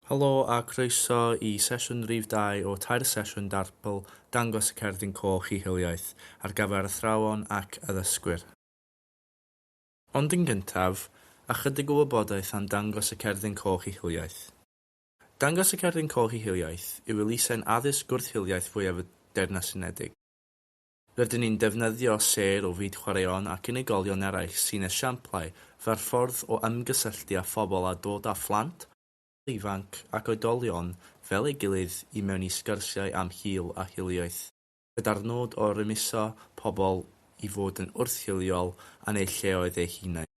Helo a croeso i sesiwn rif dau o tair sesiwn Darpl, Dangos y Cerdyn Coch i Hiliaeth, ar gyfer athrawon ac addysgwyr. Ond yn gyntaf, ychydig o wybodaeth am Dangos y Cerdyn Coch i Hiliaeth. Dangos y Cerdyn Coch i Hiliaeth yw elusen addysg gwrth-hiliaeth fwyaf y Deyrnas Unedig. Rydyn ni'n defnyddio sêr o fyd chwaraeon ac unigolion eraill sy'n esiamplau fer ffordd o ymgysylltu â phobl a dod â phlant, pobl ifanc ac oedolion fel ei gilydd i mewn i sgyrsiau am hil a hiliaeth, gyda'r nod o rymuso pobl i fod yn wrth-hiliol yn eu lleoedd eu hunain.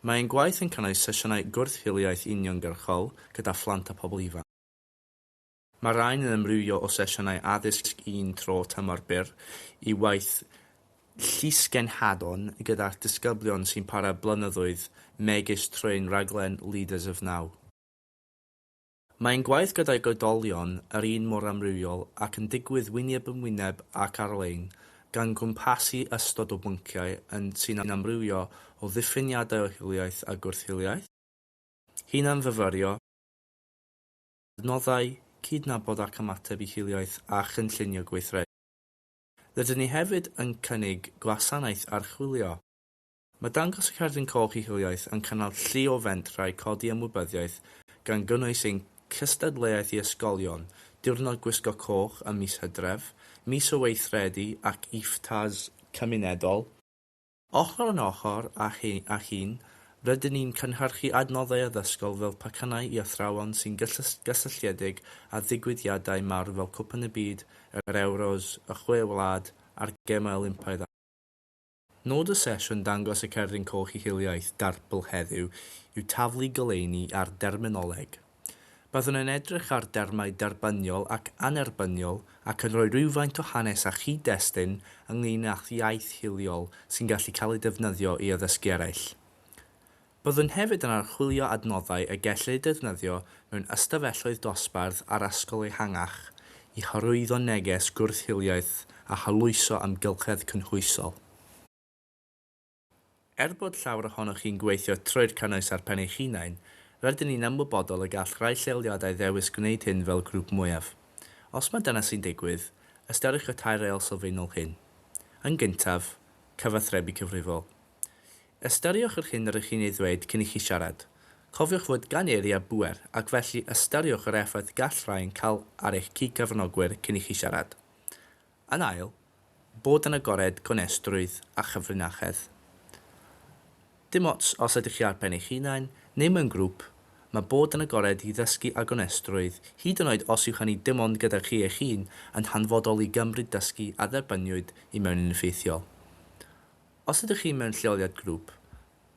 Mae ein gwaith yn cynnwys sesiynau gwrth-hiliaeth uniongyrchol gyda phlant a phobl ifanc. Mae rhain yn amrywio o sesiynau addysg un tro tymor byr i waith llysgenhadon gyda disgyblion sy'n para blynyddoedd megis trwy'n rhaglen Leaders of Now. Mae ein gwaith gydag oedolion yr un mor amrywiol ac yn digwydd wyneb yn wyneb ac ar-lein, gan gwmpasu ystod o bynciau yn sy'n amrywio o ddiffiniadau o hiliaeth a gwrth-hiliaeth, hunan-fyfyrio, adnoddau, cydnabod ac ymateb i hiliaeth a chynllunio gweithredu. Rydyn ni hefyd yn cynnig gwasanaeth archwilio. Mae dangos y Cerdyn Coch i Hiliaeth yn cynnal llu o fentrau codi ymwybyddiaeth gan gynnwys ein cystadleuaeth i ysgolion, Diwrnod Gwisgo Coch ym mis Hydref, Mis o Weithredu ac IFTAs cymunedol. Ochr yn ochr â hyn, rydyn ni'n cynhyrchu adnoddau addysgol fel pacannau i athrawon sy'n gysylltiedig â digwyddiadau mawr fel Cwpan y Byd, yr Ewros, y Chwe Wlad a'r Gemau Olympaidd a. Nod y sesiwn Dangos y Cerdyn Coch i Hiliaeth Darpl heddiw yw taflu goleuni ar derminoleg, Byddwn yn edrych ar dermau derbyniol ac annerbyniol ac yn rhoi rhywfaint o hanes a chyd-destun ynglŷn â'ch iaith hiliol sy'n gallu cael ei defnyddio i addysgu eraill. Byddwn hefyd yn archwilio adnoddau y gellid eu defnyddio mewn ystafelloedd dosbarth a'r ysgol ehangach i hyrwyddo neges gwrth-hiliaeth a harloesio amgylchedd cynhwysol. Er bod llawer ohonoch chi'n gweithio trwy'r cynnwys ar pen eich hunain, rydyn ni'n ymwybodol y gall rhai lleoliadau ddewis gwneud hyn fel grŵp mwyaf. Os mae dyna sy'n digwydd, ystyriwch y tair reol sylfaenol hyn. Yn gyntaf, cyfathrebu cyfrifol. Ystyriwch yr hyn rŷch chi'n ei ddweud cyn i chi siarad. Cofiwch fod gan eiriau bŵer, ac felly ystyriwch yr effaith gall rhai yn cael ar eich cyd-gyfranogwyr cyn i chi siarad. Yn ail, bod yn agored, gonestrwydd a chyfrinachedd. Dim ots os ydych chi ar ben eich hunain neu mewn grŵp, mae bod yn agored i ddysgu a gonestrwydd, hyd yn oed os yw hynny dim ond gyda chi eich hun, yn hanfodol i gymryd dysgu a dderbyniwyd i mewn yn effeithiol. Os ydych chi mewn lleoliad grŵp,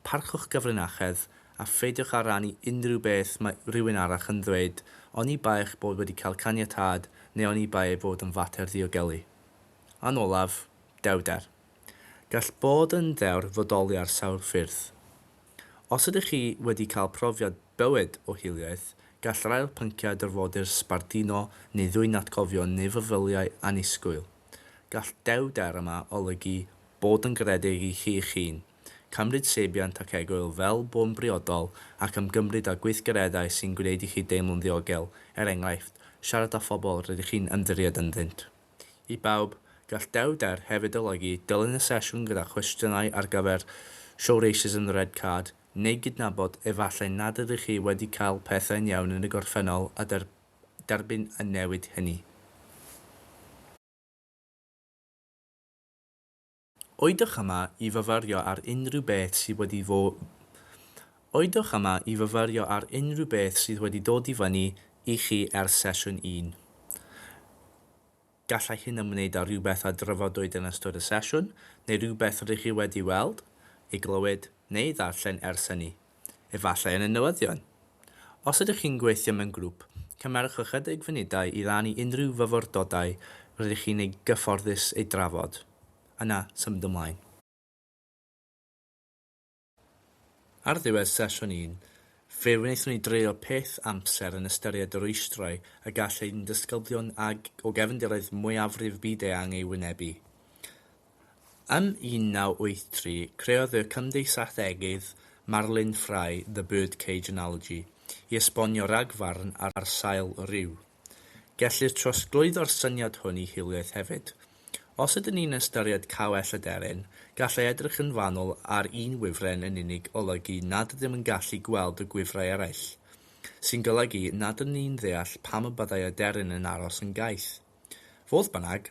Parchwch gyfrinachedd, a pheidiwch â rhannu unrhyw beth mae rhywun arall yn ddweud, oni bai eich bod wedi cael caniatâd neu oni bai ei fod yn fater ddiogelu. A'n olaf, dewder. Gall bod yn ddewr fodoli ar sawl ffyrdd. Os ydych chi wedi cael profiad bywyd o hiliaeth, gall yr ail pynciau dyrfodir sbarduno neu ddwyn atgofion neu feddyliau annisgwyl. Gall dewder yma olygu bod yn garedig i chi'ch hun. Cymryd seibiant ac egwyl fel bo'n briodol ac ymgymryd â gweithgareddau sy'n gwneud i chi deimlo'n ddiogel, er enghraifft, siarad â phobl rydych chi'n ymddiried ynddynt. I bawb, gall dewrder hefyd olygu dilyn y sesiwn gyda chwestiynau ar gyfer Show Racism the Red Card neu gydnabod efallai nad ydych chi wedi cael pethau'n iawn yn y gorffennol a derbyn y newid hynny. Oeddwch yma i fyfyrio ar unrhyw beth sydd wedi fo... Oeddwch yma i fyfyrio ar unrhyw beth sydd wedi dod i fyny i chi ers sesiwn un. Gallai hyn ymwneud â rhywbeth a drafodwyd yn ystod y sesiwn, neu rhywbeth rŷch chi wedi weld, ei glywed, neu ei ddarllen ers hynny, efallai yn y newyddion. Os ydych chi'n gweithio mewn grŵp, cymerwch ychydig funudau i rannu unrhyw fyfyrdodau rydych chi'n eu gyfforddus eu drafod. Yna, symud ymlaen. Ar ddiwedd sesiwn un, fe wnaethon ni dreulio peth amser yn ystyried y rwystrau y gall ein disgyblion ag o gefndiroedd mwyafrif byd-eang ei wynebu. Ym 1983, creodd y cymdeithasegeydd Marlin Fry The Birdcage Analogy i esbonio rhagfarn ar sail rhyw. Gellir trosglwyddo'r syniad hwn i hiliaeth hefyd. Os ydyn ni'n ystyried cawell aderyn, gallai edrych yn fanwl ar un wifren yn unig olygu nad ydym yn gallu gweld y gwifrau eraill, sy'n golygu nad ydyn ni'n ddeall pam y byddai aderyn yn aros yn gaeth. Fodd bynnag,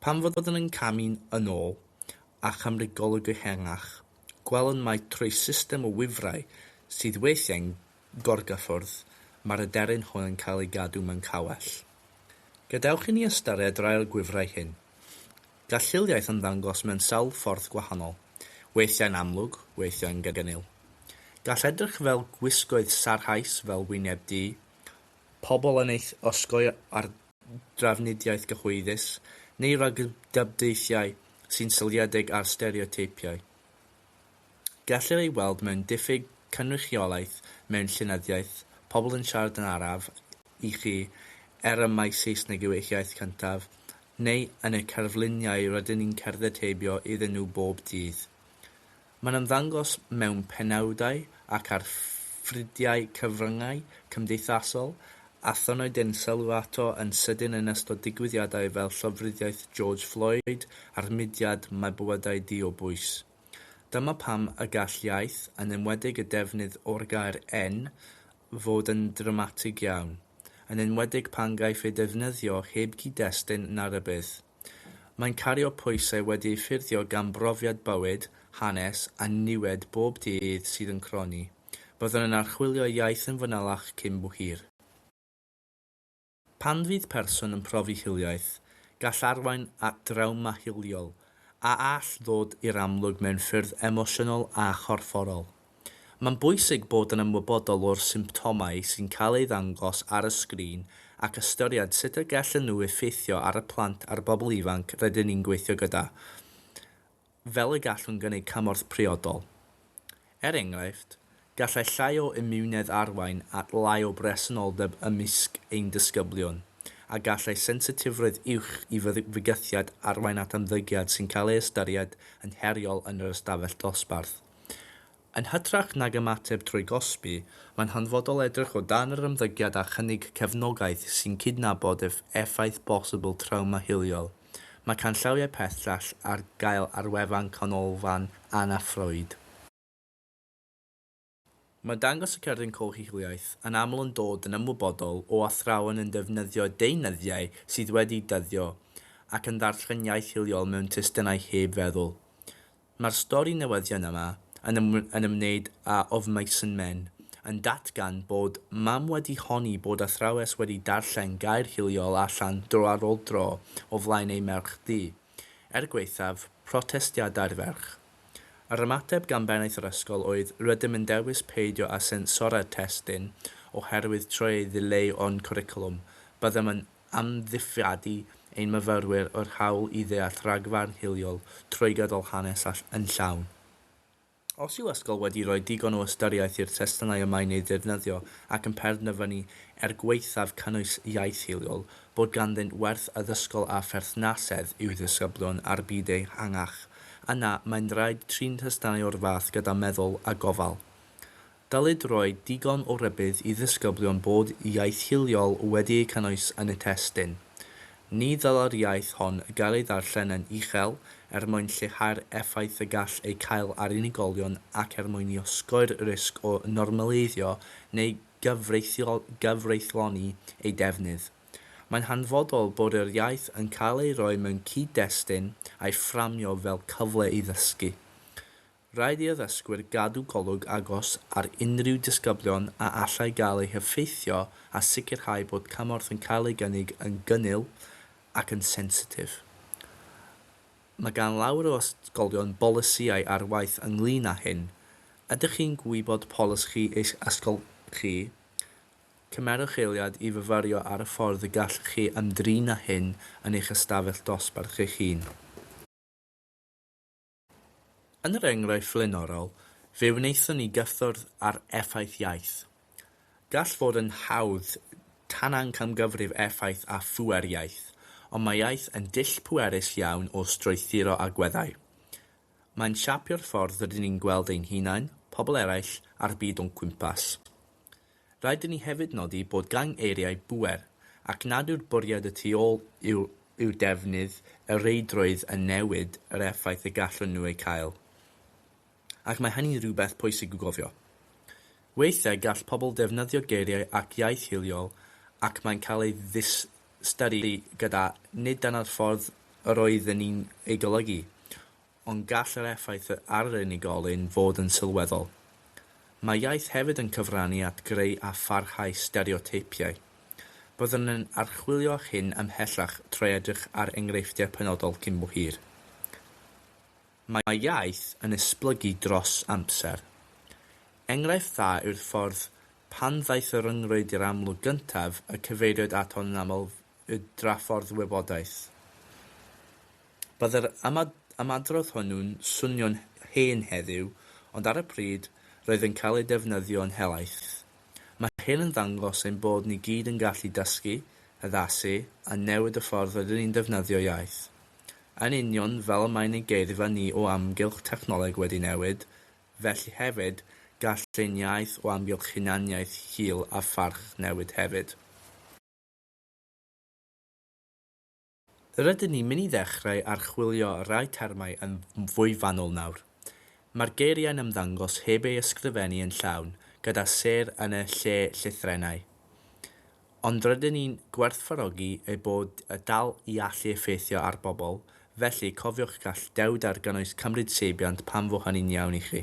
pan fyddwn yn camu'n yn ôl a chymryd golwg ehangach, gwelwn mai trwy system o wifrau sydd weithiau'n Gorgafwrdd, mae'r aderyn hwn yn cael ei gadw mewn cawell. Gadewch i ni ystyried rai o'r gwifrau hyn. Gall hiliaeth ymddangos mewn sawl ffordd gwahanol, weithiau'n amlwg, weithiau'n gadarnhaol. Gall edrych fel gwisgoedd sarhaus fel wyneb du, pobl yn eich osgoi ar drafnidiaeth gyhoeddus, neu ragdybiaethau sy'n seiliedig ar stereoteipiau. Gellir ei weld mewn diffyg cynrychiolaeth mewn llenyddiaeth, pobl yn siarad yn araf i chi er y mae Saesneg yw eich iaith cyntaf, neu yn y cerfluniau rydyn ni'n cerdded heibio iddyn nhw bob dydd. Mae'n ymddangos mewn penawdau ac ar ffrydiau cyfryngau cymdeithasol Aethon nhw dynn sylw ato yn sydyn yn ystod digwyddiadau fel llofruddiaeth George Floyd a'r mudiad Mae Bywydau Di o Bwys. Dyma pam y gall iaith, yn enwedig y defnydd o'r gair 'en', fod yn ddramatig iawn, yn enwedig pan gaiff ei ddefnyddio heb gyd-destun na rhybudd. Mae'n cario pwysau wedi ei ffurfio gan brofiad bywyd, hanes, a niwed bob dydd sydd yn cronni. Byddwn yn archwilio iaith yn fanylach cyn bo hir. Pan fydd person yn profi hiliaeth, gall arwain at drawma hiliol, a all ddod i'r amlwg mewn ffyrdd emosiynol a chorfforol. Mae'n bwysig bod yn ymwybodol o'r symptomau sy'n cael eu ddangos ar y sgrin ac ystyried sut y gellen nhw effeithio ar y plant a'r bobl ifanc rydyn ni'n gweithio gyda, fel y gallwn gynnig cymorth priodol. Er enghraifft, gallai llai o imiwnedd arwain at lai o bresenoldeb ymysg ein disgyblion, a gallai sensitifrwydd uwch i fygythiad arwain at ymddygiad sy'n cael ei ystyried yn heriol yn yr ystafell dosbarth. Yn hytrach nag ymateb trwy gosbi, mae'n hanfodol edrych o dan yr ymddygiad a chynnig cefnogaeth sy'n cydnabod ef effaith bosibl trawma hiliol. Mae canllawiau pellach ar gael ar wefan Canolfan Anna Freud. Mae'n dangos y cerdyn coch i hiliaeth yn aml yn dod yn ymwybodol o athrawon yn defnyddio deunyddiau sydd wedi dyddio ac yn ddarllen iaith hiliol mewn testunau heb feddwl. Mae'r stori newyddion yma yn ymwneud â of Mason Men yn datgan bod mam wedi honni bod athrawes wedi darllen gair hiliol allan dro ar ôl dro o flaen ei merch ddu, er gwaethaf protestiadau'r ferch. Yr ymateb gan bennaeth yr ysgol oedd rydym yn dewis peidio â sensorau'r testun oherwydd trwy ei ddileu o'n cwricwlwm byddem yn amddifradu ein myfyrwyr o'r hawl i ddeall rhagfarn hiliol trwy gydol hanes a ll yn llawn. Os yw ysgol wedi rhoi digon o ystyriaeth i'r testunau y mae'n eu ddefnyddio ac yn perndefynnu, er gwaethaf cynnwys iaith hiliol, bod ganddynt werth addysgol a pherthnasedd i'w ddisgyblion a'r byd ehangach, yna mae'n rhaid trin testunau o'r fath gyda meddwl a gofal. Dylid rhoi digon o rybudd i ddisgyblion bod iaith hiliol wedi ei cynnwys yn y testun. Ni ddylai'r iaith hon gael ei ddarllen yn uchel er mwyn lleihau'r effaith y gall ei cael ar unigolion ac er mwyn i osgoi'r risg o normaleiddio neu gyfreithloni ei defnydd. Mae'n hanfodol bod yr iaith yn cael ei roi mewn cyd-destun a'i fframio fel cyfle i ddysgu. Rhaid i addysgwyr gadw golwg agos ar unrhyw disgyblion a allai gael eu heffeithio a sicrhau bod cymorth yn cael ei gynnig yn gynnil ac yn sensitif. Mae gan lawer o ysgolion bolisïau ar waith ynglŷn â hyn. Ydych chi'n gwybod polisi eich ysgol chi? Cymerwch eiliad i fyfyrio ar y ffordd y gallwch chi ymdrin â hyn yn eich ystafell dosbarth eich hun. Yn yr enghraifft flaenorol, fe wnaethon ni gyffwrdd ar effaith iaith. Gall fod yn hawdd tanangamgyfrif effaith a phŵer iaith, ond mae iaith yn dull pwerus iawn o strwythuro agweddau. Mae'n siapio'r ffordd rydyn ni'n gweld ein hunain, pobl eraill, a'r byd o'n cwmpas. Rhaid i ni hefyd nodi bod gan eiriau bŵer, ac nad yw'r bwriad y tu ôl yw eu defnydd y reidrwydd yn newid yr effaith y gallwn nhw ei cael. Ac mae hynny'n rhywbeth pwysig i'w gofio. Weithiau gall pobl ddefnyddio geiriau ac iaith hiliol ac mae'n cael ei ddiystyru gyda nid dyna'r ffordd yr oedden ni'n ei golygu, Ond gall yr effaith ar yr unigolyn fod yn sylweddol. Mae iaith hefyd yn cyfrannu at greu a pharhau stereoteipiau. Byddwn yn archwilio hyn ymhellach trwy edrych ar enghreifftiau penodol cyn bo hir. Mae iaith yn esblygu dros amser. Enghraifft dda yw'r ffordd pan ddaeth y rhyngrwyd i'r amlwg gyntaf y cyfeiriwyd ato'n aml y draffordd wybodaeth. Byddai'r ymadrodd hwnnw'n swnio'n hen heddiw, ond ar y pryd, roedd yn cael ei defnyddio'n helaeth. Mae hyn yn dangos ein bod ni gyd yn gallu dysgu, addasu a newid y ffordd rydyn ni'n defnyddio iaith. Yn union fel y mae ein geirfa ni o amgylch technoleg wedi newid, felly hefyd, gall ein iaith o amgylch hunaniaeth, hil a pharch newid hefyd. Rydyn ni'n mynd i ddechrau archwilio rhai termau yn fwy fanwl nawr. Mae'r geiriau'n ymddangos heb eu ysgrifennu yn llawn gyda sêr yn y lle llythrennau. Ond rydyn ni'n gwerthfawrogi eu bod y dal i allu effeithio ar bobl, felly cofiwch gall dewdar gynnwys cymryd seibiant pan fo hynny'n iawn i chi.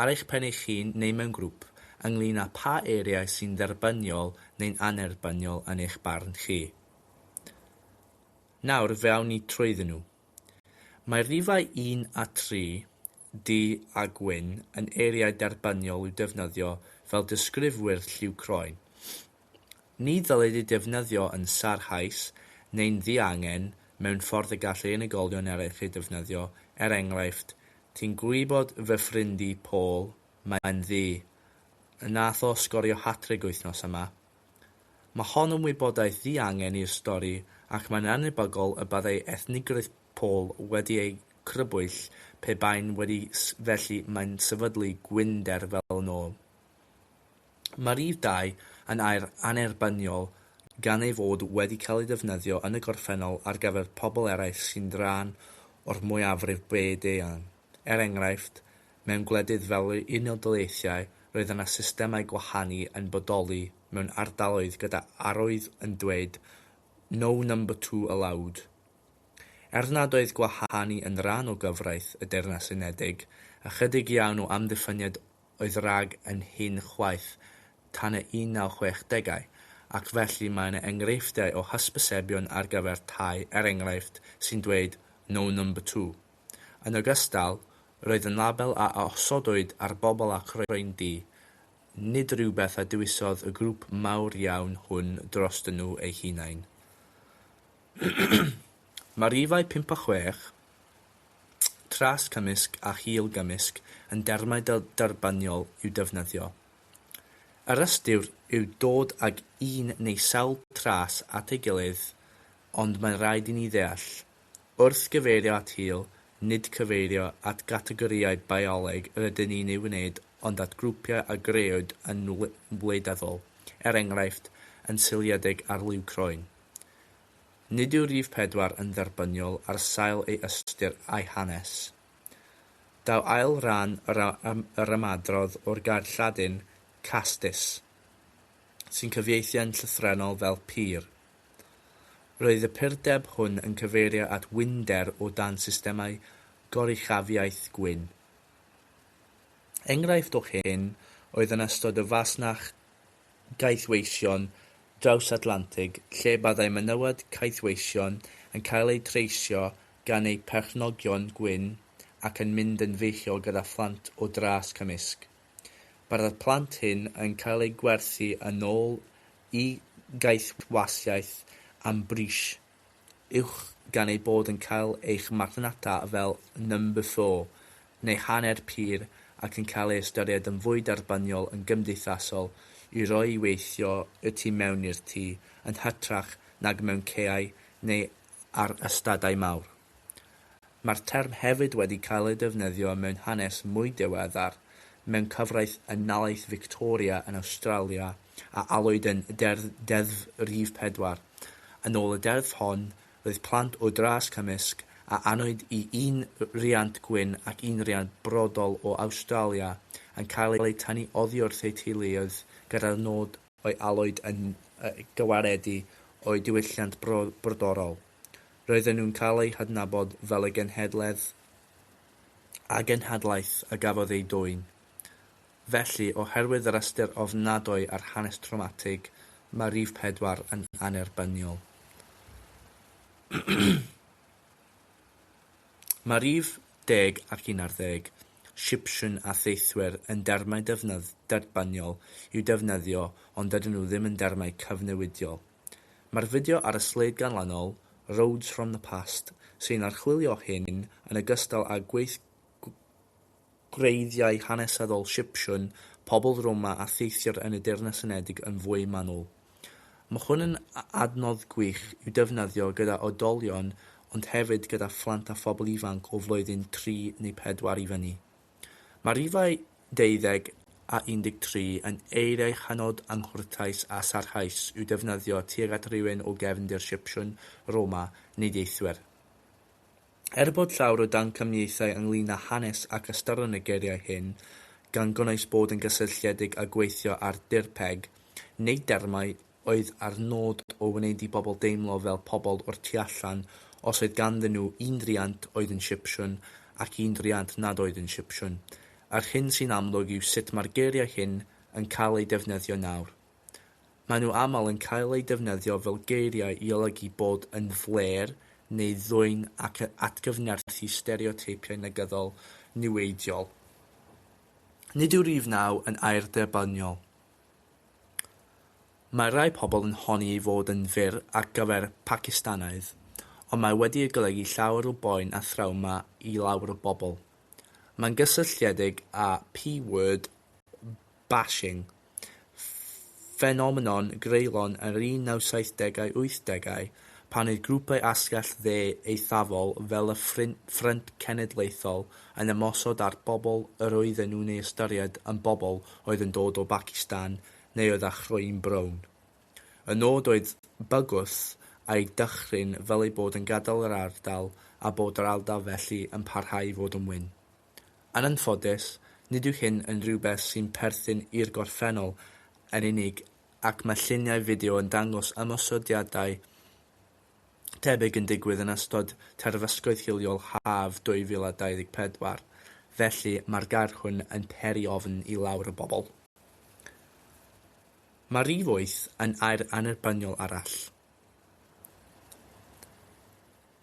ar eich pen eich hun neu mewn grŵp, ynglŷn â pha eiriau sy'n dderbyniol neu'n annerbyniol yn eich barn chi. Nawr fe awn ni trwyddyn nhw. Mae rhifau un a tri, du a gwyn, yn eiriau derbyniol i'w defnyddio fel disgrifwyr lliw croen. Ni ddylid ei defnyddio yn sarhaus neu'n ddiangen mewn ffordd y gall ei unigolion eraill ei defnyddio, er enghraifft, Ti'n gwybod fy ffrind i, Paul? Mae'n ddu. Wnaeth o sgorio hat-trig wythnos yma. Mae hon yn wybodaeth ddiangen i'r stori ac mae'n annhebygol y byddai ethnigrwydd Paul wedi ei chrybwyll pe bai'n wedi felly mae'n sefydlu gwynder fel yn ôl. Mae'r rhif dau yn air annerbyniol gan ei fod wedi cael ei ddefnyddio yn y gorffennol ar gyfer pobl eraill sy'n rhan o'r mwyafrif byd-eang. Er enghraifft, mewn gwledydd fel yr Unol Daleithiau, roedd yna systemau gwahanu yn bodoli mewn ardaloedd gyda arwydd yn dweud No number two allowed. Er nad oedd gwahanu yn rhan o gyfraith y Deyrnas Unedig, ychydig iawn o amddiffyniad oedd Rag yn hŷn chwaith tan y 1960au, ac felly mae yna enghreifftiau o hysbysebion ar gyfer tai, er enghraifft, sy'n dweud 'No Number Two'. Yn ogystal, roedd yn label a osodwyd ar bobl â croen du, nid rhywbeth a dewisodd y grŵp mawr iawn hwn drostyn nhw eu hunain. Mae rhifau pump a chwech, tras cymysg a hil gymysg, yn dermau da derbyniol i'w defnyddio. Yr ystyr yw dod ag un neu sawl tras at ei gilydd, ond mae'n rhaid i ni ddeall, wrth gyfeirio at hil, nid cyfeirio at gategorïau bioleg yr ydyn ni'n eu wneud ond at grwpiau a grëwyd yn wleidyddol, er enghraifft, yn seiliedig ar liw croen. Nid yw rhif pedwar yn dderbyniol ar sail ei ystyr a'i hanes. Daw ail ran yr ymadrodd o'r gair Lladin castis, sy'n cyfieithu'n llythrennol fel pur. Roedd y purdeb hwn yn cyfeirio at winder o dan systemau goruchafiaeth gwyn. Enghraifft o hyn oedd yn ystod y fasnach caethweision drawsatlantig lle byddai menywod caethweision yn cael eu treisio gan eu perchnogion gwyn ac yn mynd yn feichiog gyda phlant o dras cymysg. Byddai'r plant hyn yn cael eu gwerthu yn ôl i gaethwasiaeth am bris. uwch gan eu bod yn cael eich marchnata fel 'number four' neu 'hanner pur' ac yn cael eu ystyried yn fwy derbyniol yn gymdeithasol i roi i weithio y tu mewn i'r tŷ yn hytrach nag mewn caeau neu ar ystadau mawr. Mae'r term hefyd wedi cael ei defnyddio mewn hanes mwy diweddar, mewn cyfraith Unalaeth Fictoria yn Awstralia a alwyd yn Deddf Deddf Rhif Pedwar. Yn ôl y deddf hon, roedd plant o dras cymysg, a anwyd i un riant gwyn ac un riant brodol o Awstralia, yn cael eu tynnu oddiwrth eu teuluoedd gyda'r nod o'i alwyd yn gwaredu o'u diwylliant brodorol. Roedden nhw'n cael eu hadnabod fel y genhedledd a genhadlaeth a gafodd eu dwyn. Felly, oherwydd yr ystyr ofnadwy ar hanes trawmatig, mae rhif pedwar yn annerbyniol. Mae rhif deg ac unarddeg, Shipshyn a Theithwyr, yn dermau defnydd derbynniol i'w defnyddio ond dydyn nhw ddim yn dermau cyfnewidiol. Mae'r fideo ar y sleid ganlynol, Roads from the Past, sy'n archwilio hyn yn ogystal â gweithgareddau gwreiddiau hanesyddol Sipsiwn, pobl Roma a theithwyr yn y Deyrnas Unedig yn fwy manwl. Mae hwn yn adnodd gwych i'w defnyddio gyda oedolion ond hefyd gyda phlant a phobl ifanc o flwyddyn tri neu pedwar i fyny. Mae rhifau 20 a 13 yn eiriau hynod anghwrtais a sarhaus i'w defnyddio tuag at rywun o gefndir Sipsiwn, Roma neu deithwyr. Er bod llawer o damcaniaethau ynglŷn â hanes ac ystyron y geiriau hyn, gan gynnwys bod yn gysylltiedig â gweithio ar dirpeg, neu dermau oedd â'r nod o wneud i bobl deimlo fel pobl o'r tu allan os oedd ganddyn nhw un driant oedd yn Sipsiwn ac un driant nad oedd yn Sipsiwn, yr hyn sy'n amlwg yw sut mae'r geiriau hyn yn cael eu defnyddio nawr. Maen nhw aml yn cael eu defnyddio fel geiriau i olygu bod yn flêr neu ddwyn ac yn atgyfnerthu stereoteipiau negyddol niweidiol. Nid yw rhif naw yn air derbyniol. Mae rhai pobl yn honni ei fod yn fyr ar gyfer Pacistanaidd, ond mae wedi ei golygu llawer o boen a thrawma i lawer o bobl. Mae'n gysylltiedig â P-word, bashing, ffenomenon greulon yr 1970au 80au pan oedd grwpau asgell dde eithafol fel y Ffrynt Cenedlaethol yn ymosod ar bobl yr oedden nhw'n ei ystyried yn bobl oedd yn dod o Bacistan neu oedd â chroen brown. Y nod oedd bygwth a'i dychryn fel eu bod yn gadael yr ardal a bod yr ardal felly yn parhau i fod yn wyn. Yn anffodus, nid yw hyn yn rhywbeth sy'n perthyn i'r gorffennol yn unig ac mae lluniau fideo yn dangos ymosodiadau tebyg yn digwydd yn ystod terfysgoedd hiliol haf 2024, felly mae'r gair hwn yn peri ofn i lawer o bobl. Mae rhif wyth yn air annerbyniol arall.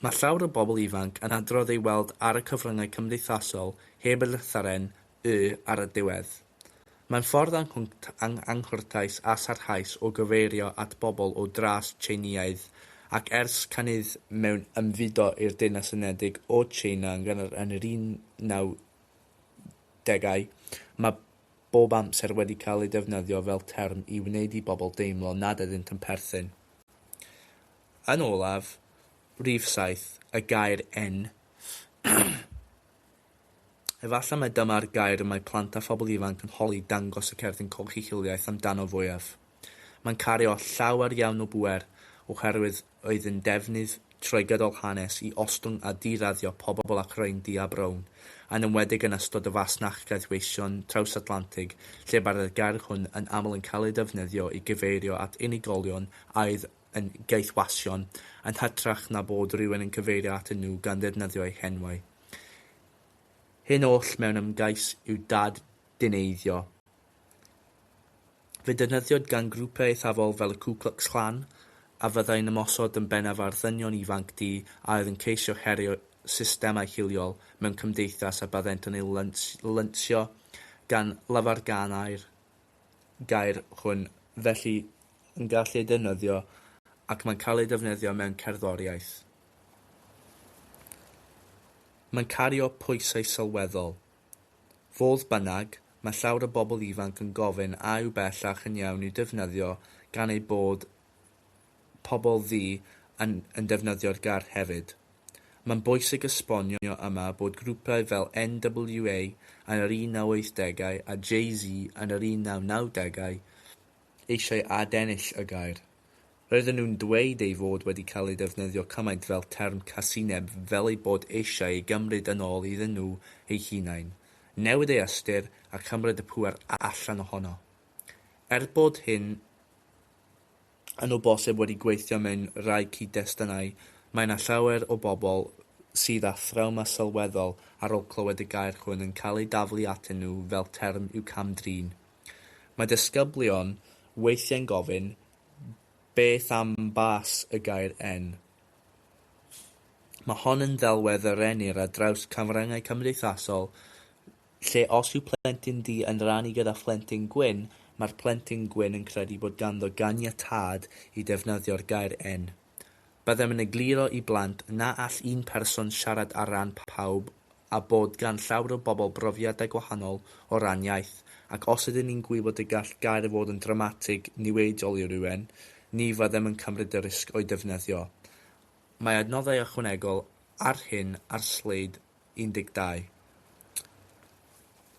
Mae llawer o bobl ifanc yn adrodd ei weld ar y cyfryngau cymdeithasol heb y llythyren 'y' ar y diwedd. Mae'n ffordd anghwrtais a sarhaus o gyfeirio at bobl o dras Tsieineaidd ac ers cynnydd mewn ymfudo i'r Deyrnas Unedig o Tsieina yn gynnar yn yr 1990au, mae bob amser wedi cael ei defnyddio fel term i wneud i bobl deimlo nad ydynt yn perthyn. Yn olaf, rhif saith, y gair en. Efallai mai dyma'r gair y mae plant a phobl ifanc yn holi dangos y cerdyn coch eu hiliaeth amdano fwyaf. Mae'n cario llawer iawn o bŵer oherwydd oedd yn defnydd trwy-gydol hanes i ostwng a di-raddio pobl ac rhain du a brown, yn enwedig yn ystod y fasnach gaethweision traws-Atlantig lle mae'r gair hwn yn aml yn cael ei defnyddio i gyfeirio at unigolion a oedd yn gaethwasion yn hytrach na bod rhywun yn cyfeirio atyn nhw gan ddefnyddio eu henwau. Hyn oll mewn ymgais i'w dad-dineiddio. Fe defnyddiwyd gan grwpiau eithafol fel y Ku Klux Klan, a fyddai'n ymosod yn bennaf ar ddynion ifanc du a oedd yn ceisio herio systemau hiliol mewn cymdeithas a byddent yn ei lansio gan lafarganau'r gair hwn felly yn gallu ei defnyddio ac mae'n cael ei defnyddio mewn cerddoriaeth. Mae'n cario pwysau sylweddol. Fodd bynnag, mae llawer o bobl ifanc yn gofyn a yw bellach yn iawn i'w defnyddio gan eu bod pobl ddu yn yn defnyddio'r gair hefyd. Mae'n bwysig esbonio yma bod grwpiau fel NWA yn yr 1980au a Jay-Z yn yr 1990au eisiau adennill y gair. Roedden nhw'n dweud ei fod wedi cael ei ddefnyddio cymaint fel term casineb fel eu bod eisiau ei gymryd yn ôl iddyn nhw eu hunain, newid ei ystyr a chymryd y pŵer allan ohono. Er bod hyn yn o bosib wedi gweithio mewn rhai cyd-destunau, mae yna llawer o bobl sydd â thrawma sylweddol ar ôl clywed y gair hwn yn cael ei daflu atyn nhw fel term i'w cam-drin. Mae disgyblion weithiau'n gofyn beth am bas y gair en. Mae hon yn ddelwedd a rennir ar draws cyfryngau cymdeithasol lle os yw plentyn du yn rhannu gyda phlentyn gwyn, mae'r plentyn gwyn yn credu bod ganddo ganiatâd i ddefnyddio'r gair en. Byddem yn egluro i blant na all un person siarad ar ran pawb a bod gan llawer o bobl brofiadau gwahanol o ran iaith, ac os ydyn ni'n gwybod y gall gair fod yn drawmatig niweidiol i rywun, ni fyddem yn cymryd y risg o'i defnyddio. Mae adnoddau ychwanegol ar hyn ar sleid 12.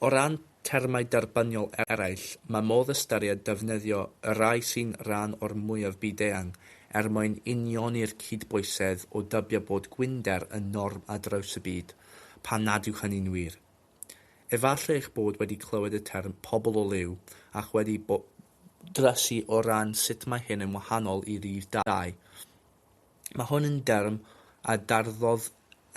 O ran termau derbyniol eraill, mae modd ystyried defnyddio y rhai sy'n rhan o'r mwyaf byd-eang er mwyn unioni'r cydbwysedd o dybio bod gwynder yn norm ar draws y byd, pan nad yw hynny'n wir. Efallai eich bod wedi clywed y term pobl o liw ac wedi drysu o ran sut mae hyn yn wahanol i rif dau. Mae hwn yn derm a darddodd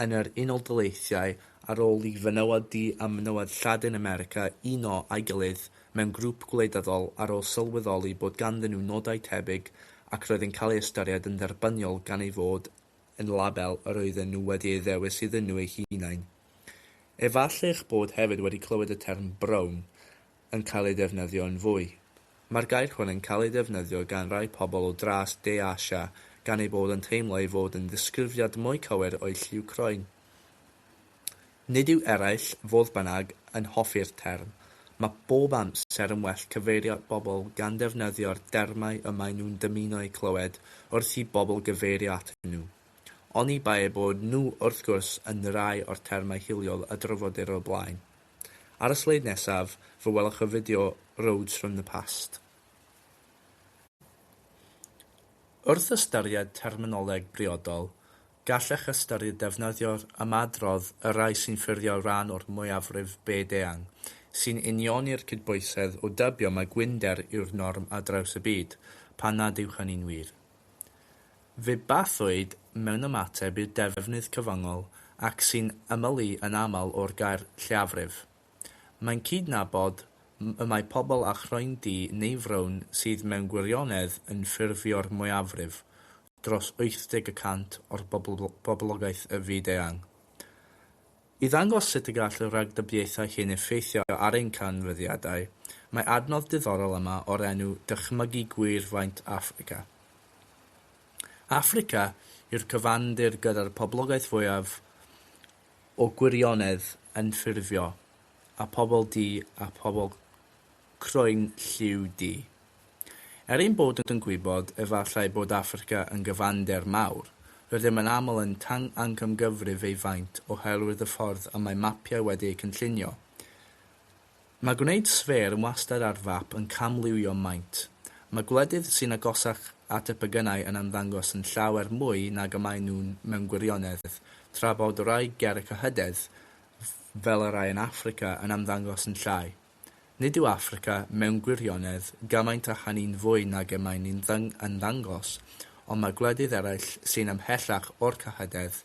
yn yr Unol Daleithiau ar ôl i fenywod du a menywod Lladin America uno â'i gilydd mewn grŵp gwleidyddol ar ôl sylweddoli bod ganddyn nhw nodau tebyg ac roedd yn cael ei ystyried yn dderbyniol gan ei fod yn label yr oedden nhw wedi ei ddewis iddyn nhw eu hunain. Efallai'ch bod hefyd wedi clywed y term 'brown', yn cael ei ddefnyddio yn fwy. Mae'r gair hwn yn cael ei ddefnyddio gan rai pobl o dras De Asia gan eu bod yn teimlo ei fod yn ddisgrifiad mwy cywir o'u lliw croen. Nid yw eraill, fodd bynnag, yn hoffi'r term. Mae bob amser yn well cyfeirio at bobl gan ddefnyddio'r dermau y maen nhw'n dymuno eu clywed wrth i bobl gyfeirio atyn nhw. Oni bai eu bod nhw, wrth gwrs, yn rai o'r termau hiliol a drafodir o'r blaen. Ar y sleid nesaf, fe welwch y fideo Roads from the Past. Wrth ystyried terminoleg briodol, gallech ystyried defnyddio'r ymadrodd y rhai sy'n ffurfio rhan o'r mwyafrif byd-eang, sy'n unioni'r cydbwysedd o dybio mai gwynder yw'r norm ar draws y byd, pan nad yw hynny'n wir. Ddibathwyd mewn ymateb i'r defnydd cyfyngol ac sy'n ymylu yn aml o'r gair 'lleiafrif'. Mae'n cydnabod y mae pobl â chroen du neu frown sydd mewn gwirionedd yn ffurfio'r mwyafrif, dros 80 y cant o'r boblogaeth y fyd eang. I ddangos sut y gall y rhagdybiaethau hyn effeithio ar ein canfyddiadau, mae adnodd diddorol yma o'r enw Dychmygu Gwir Faint Affrica. Affrica yw'r cyfandir gyda'r poblogaeth fwyaf o gwirionedd yn ffurfio, a phobl du a phobl croen lliw di. Er ein bod yn gwybod efallai bod Affrica yn gyfander mawr, rydym yn aml yn tangamcangyfrif ei faint oherwydd y ffordd y mae mapiau wedi eu cynllunio. Mae gwneud sffêr yn wastad ar fap yn camliwio maint. Mae gwledydd sy'n agosach at y pegynau yn ymddangos yn llawer mwy nag y maen nhw'n mewn gwirionedd, tra bod rhai gerrig a hydedd, fel y rhai yn Affrica, yn ymddangos yn llai. Nid yw Affrica, mewn gwirionedd, gymaint â hynny'n fwy nag y mae'n ei ymddangos, ond mae gwledydd eraill sy'n ymhellach o'r cyhydedd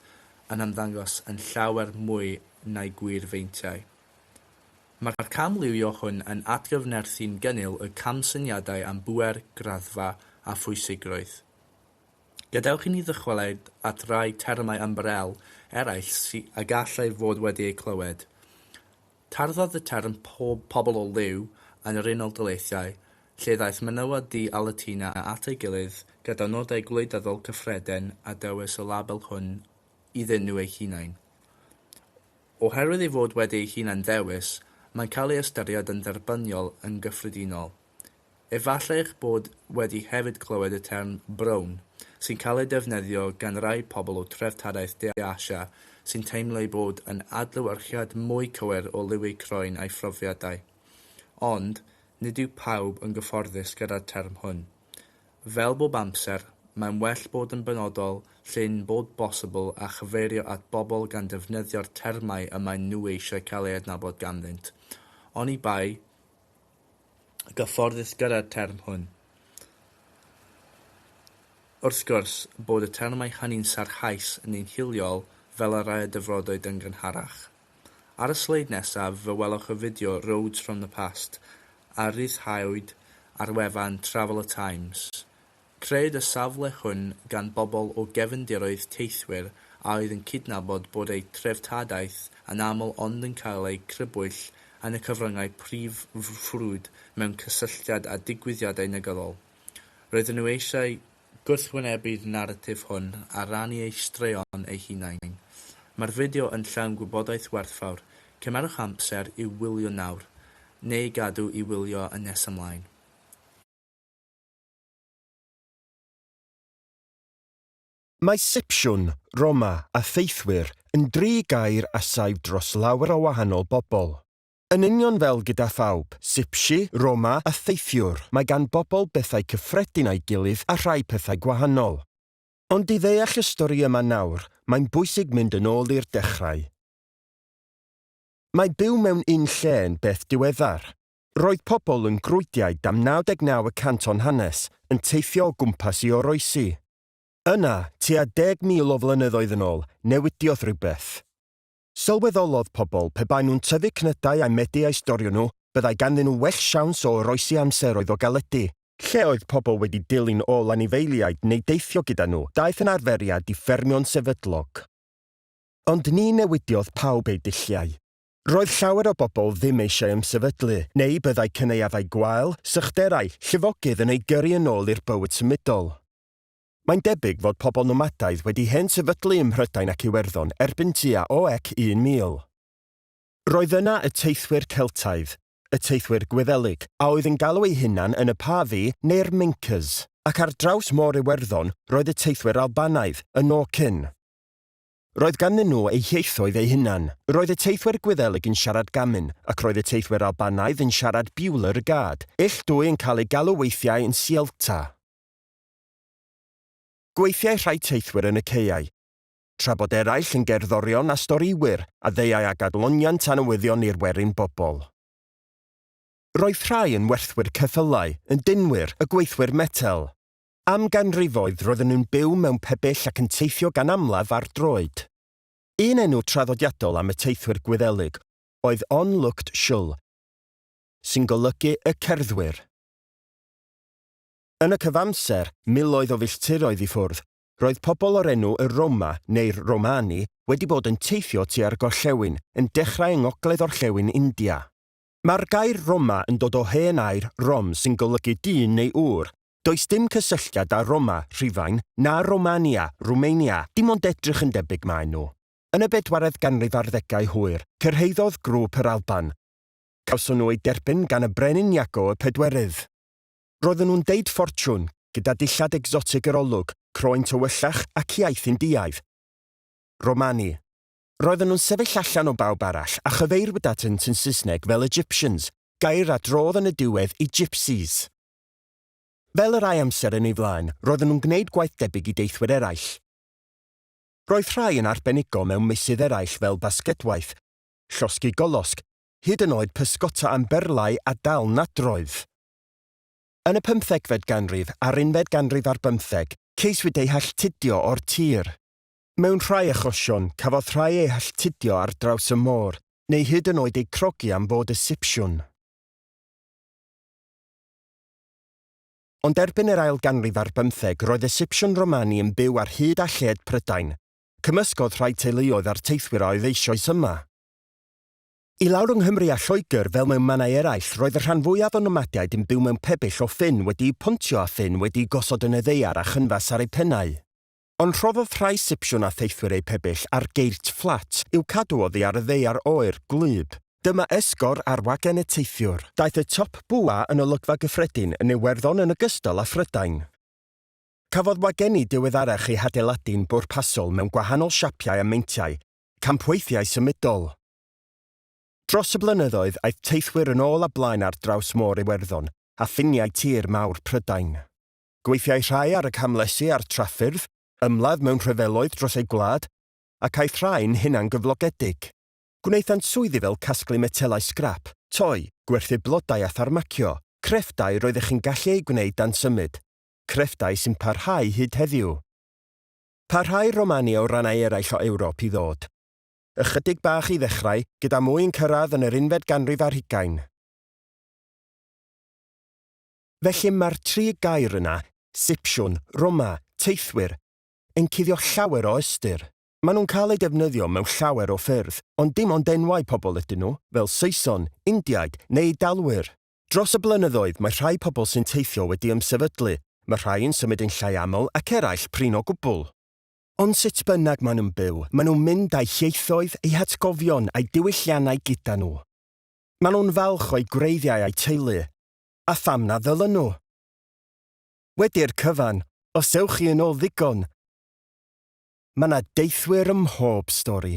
yn ymddangos yn llawer mwy na'i gwir feintiau. Mae'r camliwio hwn yn atgyfnerthu'n gynnil y camsyniadau am bŵer, graddfa a phwysigrwydd. Gadewch i ni ddychwelyd at rai termau ymbarel eraill a gallai fod wedi eu clywed. Tarddodd y term pob pobl o liw yn yr Unol Daleithiau, lle ddaeth menywod du a Latina at ei gilydd gyda nodau gwleidyddol cyffredin a dewis y label hwn iddyn nhw eu hunain. Oherwydd ei fod wedi ei hunan-ddewis, mae'n cael ei ystyried yn dderbyniol yn gyffredinol. Efallai eich bod wedi hefyd clywed y term 'brown', sy'n cael ei defnyddio gan rai pobl o dreftadaeth De Asia sy'n teimlo ei bod yn adlewyrchiad mwy cywir o liw eu croen a'u phrofiadau. Ond, nid yw pawb yn gyfforddus gyda'r term hwn. Fel bob amser, mae'n well bod yn benodol lle'n bod bosibl a chyfeirio at bobl gan ddefnyddio'r termau y maen nhw eisiau cael eu hadnabod ganddynt, oni bai gyfforddus gyda'r term hwn. Wrth gwrs, bod y termau hynny'n sarhaus neu'n hiliol fel y rhai a dyfrodwyd yn gynharach. Ar y sleid nesaf fe welwch y fideo 'Roads from the Past' a ryddhawyd ar wefan Travel a Times Crëwyd y safle hwn gan bobl o gefndiroedd teithwyr a oedd yn cydnabod bod eu treftadaeth yn aml ond yn cael eu crybwyll yn y cyfryngau prif ffrwd mewn cysylltiad â digwyddiadau negyddol. Roedden nhw eisiau gwrthwynebu'r naratif hwn a rannu eu straeon eu hunain. Mae'r fideo yn llawn gwybodaeth werthfawr, cymerwch amser i'w wylio nawr, neu gadw i wylio yn nes ymlaen. Mae Sipsiwn, Roma, a Theithwyr yn dri gair a saif dros lawer o wahanol bobl. Yn union fel gyda phawb, Sipsi, Roma, a Theithiwr, mae gan bobl bethau cyffredin â'i gilydd a rhai pethau gwahanol. Ond i ddeall y stori yma nawr, mae'n bwysig mynd yn ôl i'r dechrau. Mae byw mewn un lle yn beth diweddar. Roedd pobl yn Grwyddiaid am 99 y cant o'n hanes yn teithio o gwmpas i oroesi. Yna, tua 10,000 o flynyddoedd yn ôl, newidiodd rhywbeth. Sylweddolodd pobl pe baen nhw'n tyfu cnydau a'u medu a'u storio nhw, byddai ganddyn nhw well siawns o oroesi amseroedd o galedi. Lle oedd pobl wedi dilyn ôl anifeiliaid neu deithio gyda nhw, daeth yn arferiad i ffermio'n sefydlog. Ond ni newidiodd pawb eu dulliau. Roedd llawer o bobl ddim eisiau ymsefydlu, neu byddai cynaeafau gwael, sychderau, llifogydd yn eu gyrru yn ôl i'r bywyd symudol. Mae'n debyg fod pobl nomadaidd wedi hen sefydlu ym Mhrydain ac Iwerddon erbyn tua oec 1000. Roedd yna y teithwyr Celtaidd, y teithwyr Gwyddelig, a oedd yn galw eu hunan yn y Pavi neu'r Mincas, ac ar draws Môr Iwerddon roedd y teithwyr Albanaidd, y Norcyn. Roedd ganddyn nhw eu hieithoedd eu hunan. Roedd y teithwyr Gwyddelig yn siarad Gamin, ac roedd y teithwyr Albanaidd yn siarad Biwler y Gad. Ill dwy yn cael eu galw weithiau yn Sielta. Gweithiai rhai teithwyr yn y caeau. Tra bod eraill yn gerddorion a storïwyr, a ddeuai ag adloniant anywyddion i'r werin bobl. Roedd rhai yn werthwyr ceffylau, yn dinwyr, y gweithwyr metel. Am ganrifoedd roedden nhw'n byw mewn pebyll ac yn teithio gan amlaf ar droed. Un enw traddodiadol am y teithwyr Gwyddelig oedd onlooked shul, sy'n golygu y cerddwyr. Yn y cyfamser, miloedd o filltiroedd i ffwrdd, roedd pobl o'r enw y Roma, neu'r Romani, wedi bod yn teithio tua'r gorllewin, yn dechrau yng ngogledd-orllewin India. Mae'r gair Roma yn dod o hen air Rom sy'n golygu dyn neu ŵr. Does dim cysylltiad â Roma, Rhufain, na Romania, Rwmania, dim ond edrych yn debyg maen nhw. Yn y bedwaredd ganrif ar ddegau hwyr, cyrhaeddodd grŵp yr Alban. Cawson nhw eu derbyn gan y brenin Iago y Pedwerydd. Roedden nhw'n deud ffortiwn, gyda dillad egsotig yr olwg, croen tywyllach ac iaith Indiaidd. Romani. Roedden nhw'n sefyll allan o bawb arall a chyfeirwyd atynt yn Saesneg fel Egyptians, gair a drodd yn y diwedd i Gypsies. Fel y rhai amser yn ei flaen, roedden nhw'n gwneud gwaith debyg i deithwyr eraill. Roedd rhai yn arbenigo mewn meysydd eraill fel basgedwaith, llosgi golosg, hyd yn oed pysgota am berlau a dal nadroedd. Yn y pymthegfed ganrif a'r unfed ganrif ar bymtheg, ceiswyd eu halltudio o'r tir. Mewn rhai achosion, cafodd rhai eu halltudio ar draws y môr, neu hyd yn oed eu crogi am fod y Sipsiwn. Ond erbyn yr ail ganrif ar bymtheg roedd y Sipsiwn Romani yn byw ar hyd a lled Prydain. Cymysgodd rhai teuluoedd a'r teithwyr a oedd eisoes yma. I lawr yng Nghymru a Lloegr, fel mewn mannau eraill, roedd y rhan fwyaf o nomadiaid yn byw mewn pebyll o ffyn wedi'u pontio a ffyn wedi'u gosod yn y ddaear a chynfas ar eu pennau. Ond rhoddodd rhai Sipsiwn a Theithwyr eu pebyll ar geirch fflat i'w cadw oddi ar y ddaear oer, gwlyb. Dyma esgor ar wagen y teithiwr. Daeth y Top Bwa yn olygfa gyffredin yn Iwerddon yn ogystal â Phrydain. Cafodd wagenni diweddarach eu hadeiladu'n bwrpasol mewn gwahanol siapiau a meintiau, campweithiau symudol. Dros y blynyddoedd, aeth teithwyr yn ôl a blaen ar draws Môr Iwerddon a ffiniau tir mawr Prydain. Gweithiai rhai ar y camlesi a'r trafffyrdd, ymladd mewn rhyfeloedd dros eu gwlad, ac aeth rhai'n hunangyflogedig. Gwnaethant swyddi fel casglu metelau sgrap, toi, gwerthu blodau a pharmacio, crefftau roeddech chi'n gallu eu gwneud dan symud, crefftau sy'n parhau hyd heddiw. Parhai Romania o rannau eraill o Ewrop i ddod. Ychydig bach i ddechrau, gyda mwy yn cyrraedd yn yr unfed ganrif ar hugain. Felly mae'r tri gair yna, Sipsiwn, Roma, teithwyr, yn cuddio llawer o ystyr. Maen nhw'n cael eu defnyddio mewn llawer o ffyrdd, ond dim ond enwau pobl ydyn nhw, fel Saeson, Indiaid, neu Eidalwyr. Dros y blynyddoedd, mae rhai pobl sy'n teithio wedi ymsefydlu, mae rhai yn symud yn llai aml ac eraill prin o gwbl. Ond sut bynnag maen nhw'n byw, maen nhw'n mynd â'u hieithoedd, eu hatgofion a'u diwylliannau gyda nhw. Maen nhw'n falch o'u gwreiddiau a'u teulu. a pham na ddylen nhw? Wedi'r cyfan, os ewch chi yn ôl ddigon, mae 'na deithwyr ym mhob stori.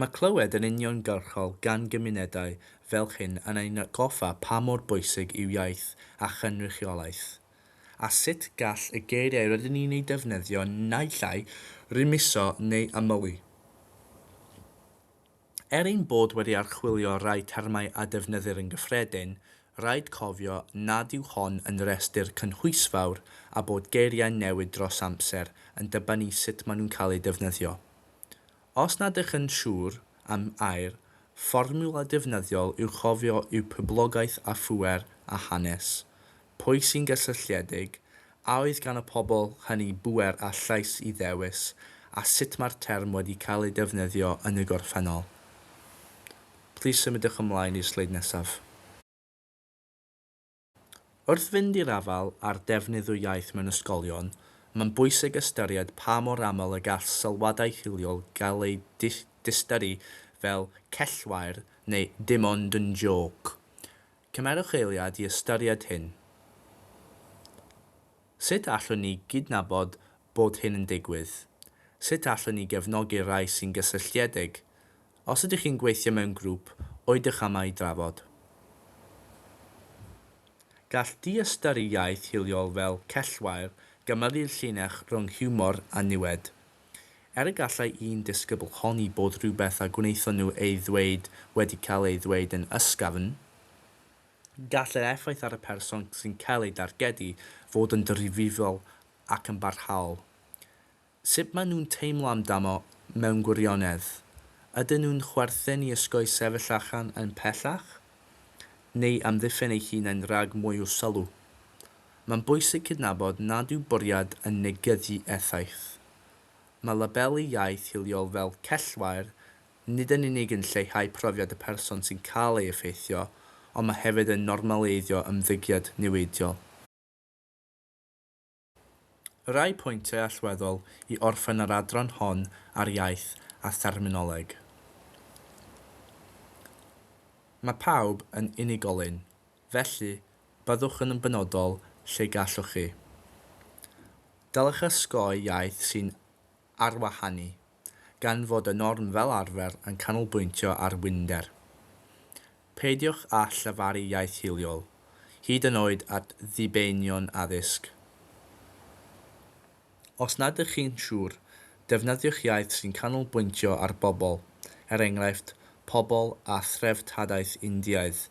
Mae clywed yn uniongyrchol gan gymunedau fel hyn yn ein atgoffa pa mor bwysig yw iaith a chynrychiolaeth, a sut gall y geiriau rydyn ni'n eu defnyddio naill ai rymuso neu ymylu. Er ein bod wedi archwilio rhai termau a defnyddir yn gyffredin, rhaid cofio nad yw hon yn restr cynhwysfawr a bod geiriau'n newid dros amser yn dibynnu sut maen nhw'n cael eu defnyddio. Os nad ych yn siŵr am ai'r fformiwla defnyddiol i'w chofio yw poblogaeth a phŵer a hanes, pwy sy'n gysylltiedig, a oedd gan y pobl hynny bŵer a llais i ddewis, a sut mae'r term wedi cael ei defnyddio yn y gorffennol. Plis symudwch ymlaen i'r sleid nesaf. Wrth fynd i'r afael â'r defnydd o iaith mewn ysgolion, mae'n bwysig ystyried pa mor aml y gall sylwadau hiliol gael eu diystyru fel cellwair neu dim ond yn jôc. Cymerwch eiliad i ystyried hyn. Sut allwn ni gydnabod bod hyn yn digwydd? Sut allwn ni gefnogi'r rhai sy'n gysylltiedig? Os ydych chi'n gweithio mewn grŵp, oedych yma i drafod. Gall diystyru iaith hiliol fel cellwair gymyru'r llinell rhwng hiwmor a niwed. Er y gallai un disgybl honni bod rhywbeth a gwnaethon nhw ei ddweud wedi cael ei ddweud yn ysgafn, Gall yr effaith ar y person sy'n cael ei dargedu fod yn ddifrifol ac yn barhaol. Sut maen nhw'n teimlo amdano mewn gwirionedd? Ydyn nhw'n chwerthin i osgoi sefyll allan yn pellach? Neu amddiffyn eu hunain rhag mwy o sylw? Mae'n bwysig cydnabod nad yw bwriad yn negyddu effaith. Mae labelu iaith hiliol fel cellwair nid yn unig yn lleihau profiad y person sy'n cael ei effeithio, ond mae hefyd yn normaleiddio ymddygiad niweidiol. Rhai pwyntiau allweddol i orffen yr adran hon ar iaith a therminoleg. Mae pawb yn unigolyn, felly byddwch yn benodol lle gallwch chi. Dylech osgoi iaith sy'n arwahanu. gan fod y norm fel arfer yn canolbwyntio ar winder. Peidiwch â llefaru iaith hiliol, hyd yn oed at ddibeinion addysg. Os nad ydych chi'n siŵr, defnyddiwch iaith sy'n canolbwyntio ar bobl, er enghraifft, pobl â threftadaeth Indiaidd,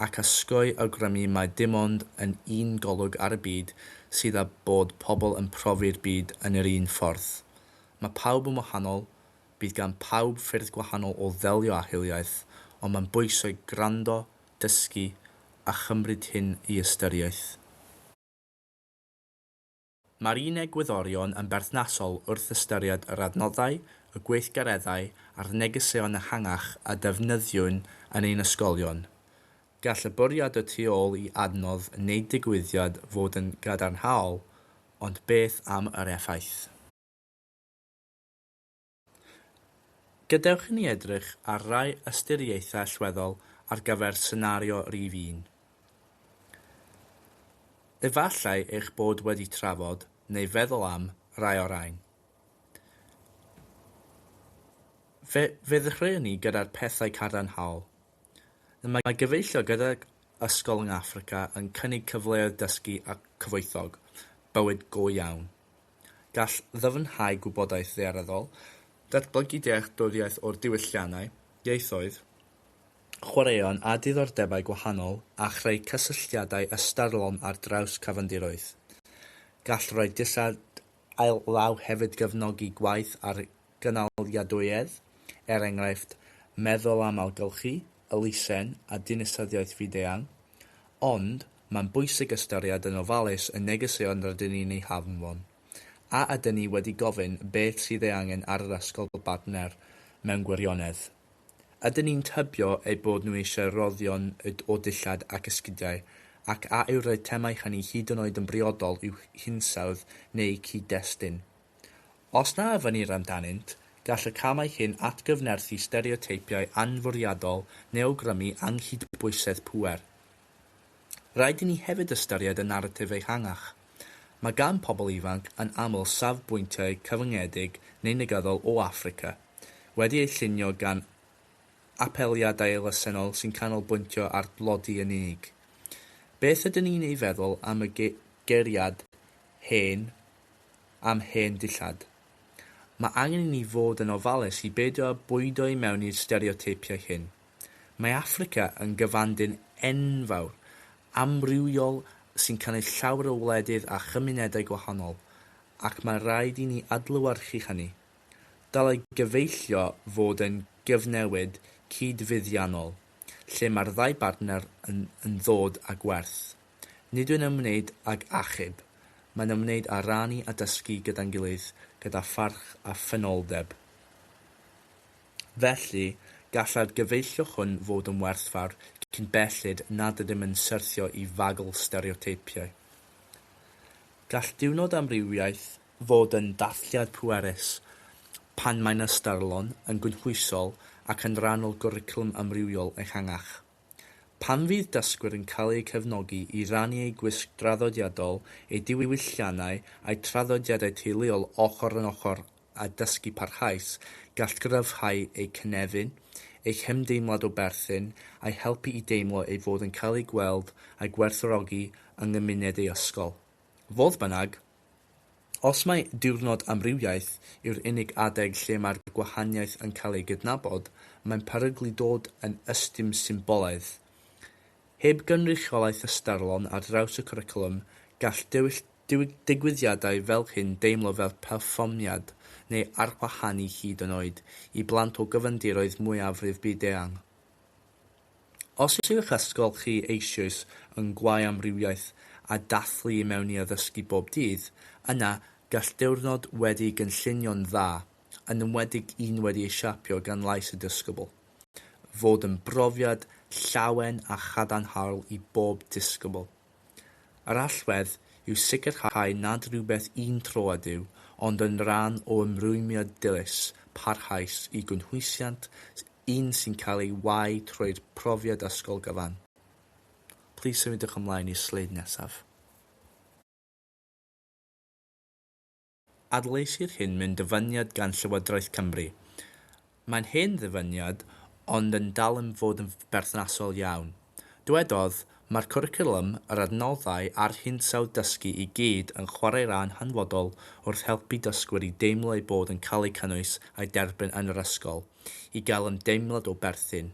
ac osgoi awgrymu mai dim ond yn un golwg ar y byd sydd â bod pobl yn profi'r byd yn yr un ffordd. Mae pawb yn wahanol, bydd gan bawb ffyrdd gwahanol o ddelio â hiliaeth, ond mae'n bwysig gwrando, dysgu a chymryd hyn i ystyriaeth. Mae'r un egwyddorion yn berthnasol wrth ystyried yr adnoddau, y gweithgareddau a'r negeseuon ehangach a defnyddiwn yn ein ysgolion. Gall y bwriad y tu ôl i adnodd wneud digwyddiad fod yn gadarnhaol, ond beth am yr effaith? Gadewch i ni edrych ar rai ystyriaethau allweddol ar gyfer senario rif un. Efallai eich bod wedi trafod neu feddwl am rai o'r rhain. Fe ddechreuwn ni gyda'r pethau cadarnhaol. Y mae gyfeillio gydag ysgol yng Affrica yn cynnig cyfleoedd dysgu a cyfoethog, bywyd go iawn. Gall ddyfnhau gwybodaeth ddaearyddol, datblygu dealltwriaeth o'r diwylliannau, ieithoedd, chwaraeon a diddordebau gwahanol a chreu cysylltiadau ystyrlon ar draws cyfandiroedd. Gall roi dillad All law hefyd gefnogi gwaith ar gynaliadwyedd, er enghraifft, meddwl am ailgylchu, elusen a dinisteddiaeth fyd-eang. Ond, mae'n bwysig ystyried yn ofalus y negeseuon rydyn ni'n eu hanfon. A ydyn ni wedi gofyn beth sydd ei angen ar yr ysgol bartner mewn gwirionedd? Ydyn ni'n tybio eu bod nhw eisiau rhoddion o ddillad ac esgidiau, ac a yw'r eitemau hynny hyd yn oed yn briodol i'w hinsawdd neu'u cyd-destun? Os na ofynnir amdanynt, gall y camau hyn atgyfnerthu stereoteipiau anfwriadol neu awgrymu anghydbwysedd pŵer. Rhaid i ni hefyd ystyried y naratif ehangach. Mae gan pobl ifanc yn aml safbwyntiau cyfyngedig neu negyddol o Affrica, wedi ei llunio gan apeliadau elusennol sy'n canolbwyntio ar dlodi yn unig. Beth ydyn ni'n ei feddwl am y guriad hen am hen dillad? Mae angen i ni fod yn ofalus i beidio â bwydo i mewn i'r stereoteipiau hyn. Mae Affrica yn gyfanddyn enfawr, amrywiol sy'n cynnwys llawer o wledydd a chymunedau gwahanol, ac mae rhaid i ni adlewyrchu hynny. Dylai gyfeillio fod yn gyfnewid cyd-fuddiannol, lle mae'r ddau bartner yn yn ddod â gwerth. Nid yw'n ymwneud ag achub, mae'n ymwneud â rannu a dysgu gyda'n gilydd gyda pharch a ffynoldeb. Felly, gallai'r gyfeillio hwn fod yn werthfawr cyn belled nad ydym yn syrthio i fagl stereoteipiau. Gall diwrnod amrywiaeth fod yn dathliad pwerus pan mae'n ystyrlon, yn gynhwysol ac yn rhan o gwricwlwm amrywiol ehangach. Pan fydd dysgwyr yn cael eu cefnogi i rannu eu gwisg draddodiadol, eu diwylliannau a'u traddodiadau teuluol ochr yn ochr â dysgu parhaus, gall gryfhau eu cynefin, eu hymdeimlad o berthyn, a'u helpu i deimlo ei fod yn cael eu gweld a gwerthfawrogi yng nghymuned eu ysgol. Fodd bynnag, Os mai Diwrnod Amrywiaeth yw'r unig adeg lle mae'r gwahaniaeth yn cael ei gydnabod, mae'n peryglu dod yn ystum symbolaidd. Heb gynrychiolaeth ystyrlon ar draws y cwricwlwm, gall digwyddiadau fel hyn deimlo fel perfformiad neu arwahanu hyd yn oed i blant o gyfandiroedd mwyafrif byd-eang. Os yw'ch ysgol chi eisioes yn gwau amrywiaeth a dathlu i mewn i addysgu bob dydd, yna gall diwrnod wedi gynllunio'n dda, yn enwedig un wedi ei siapio gan lais y disgybl, fod yn brofiad llawen a chadarnhaol i bob disgybl. Yr allwedd yw sicrhau nad rhywbeth un tro ydyw, ond yn rhan o ymrwymiad dilys, parhaus i gynhwysiant un sy'n cael ei wau trwy'r profiad ysgol gyfan. Plis symudiwch ymlaen i'r sleid nesaf. Adleisir hyn mewn dyfyniad gan Llywodraeth Cymru. Mae'n hen ddyfyniad ond yn dal yn fod yn berthnasol iawn. Dywedodd, Mae'r cwricwlwm, yr adnoddau a'r hinsawdd dysgu i gyd yn chwarae ran hanfodol wrth helpu dysgwyr i deimlo eu bod yn cael eu cynnwys a'u derbyn yn yr ysgol. i gael ymdeimlad o berthyn.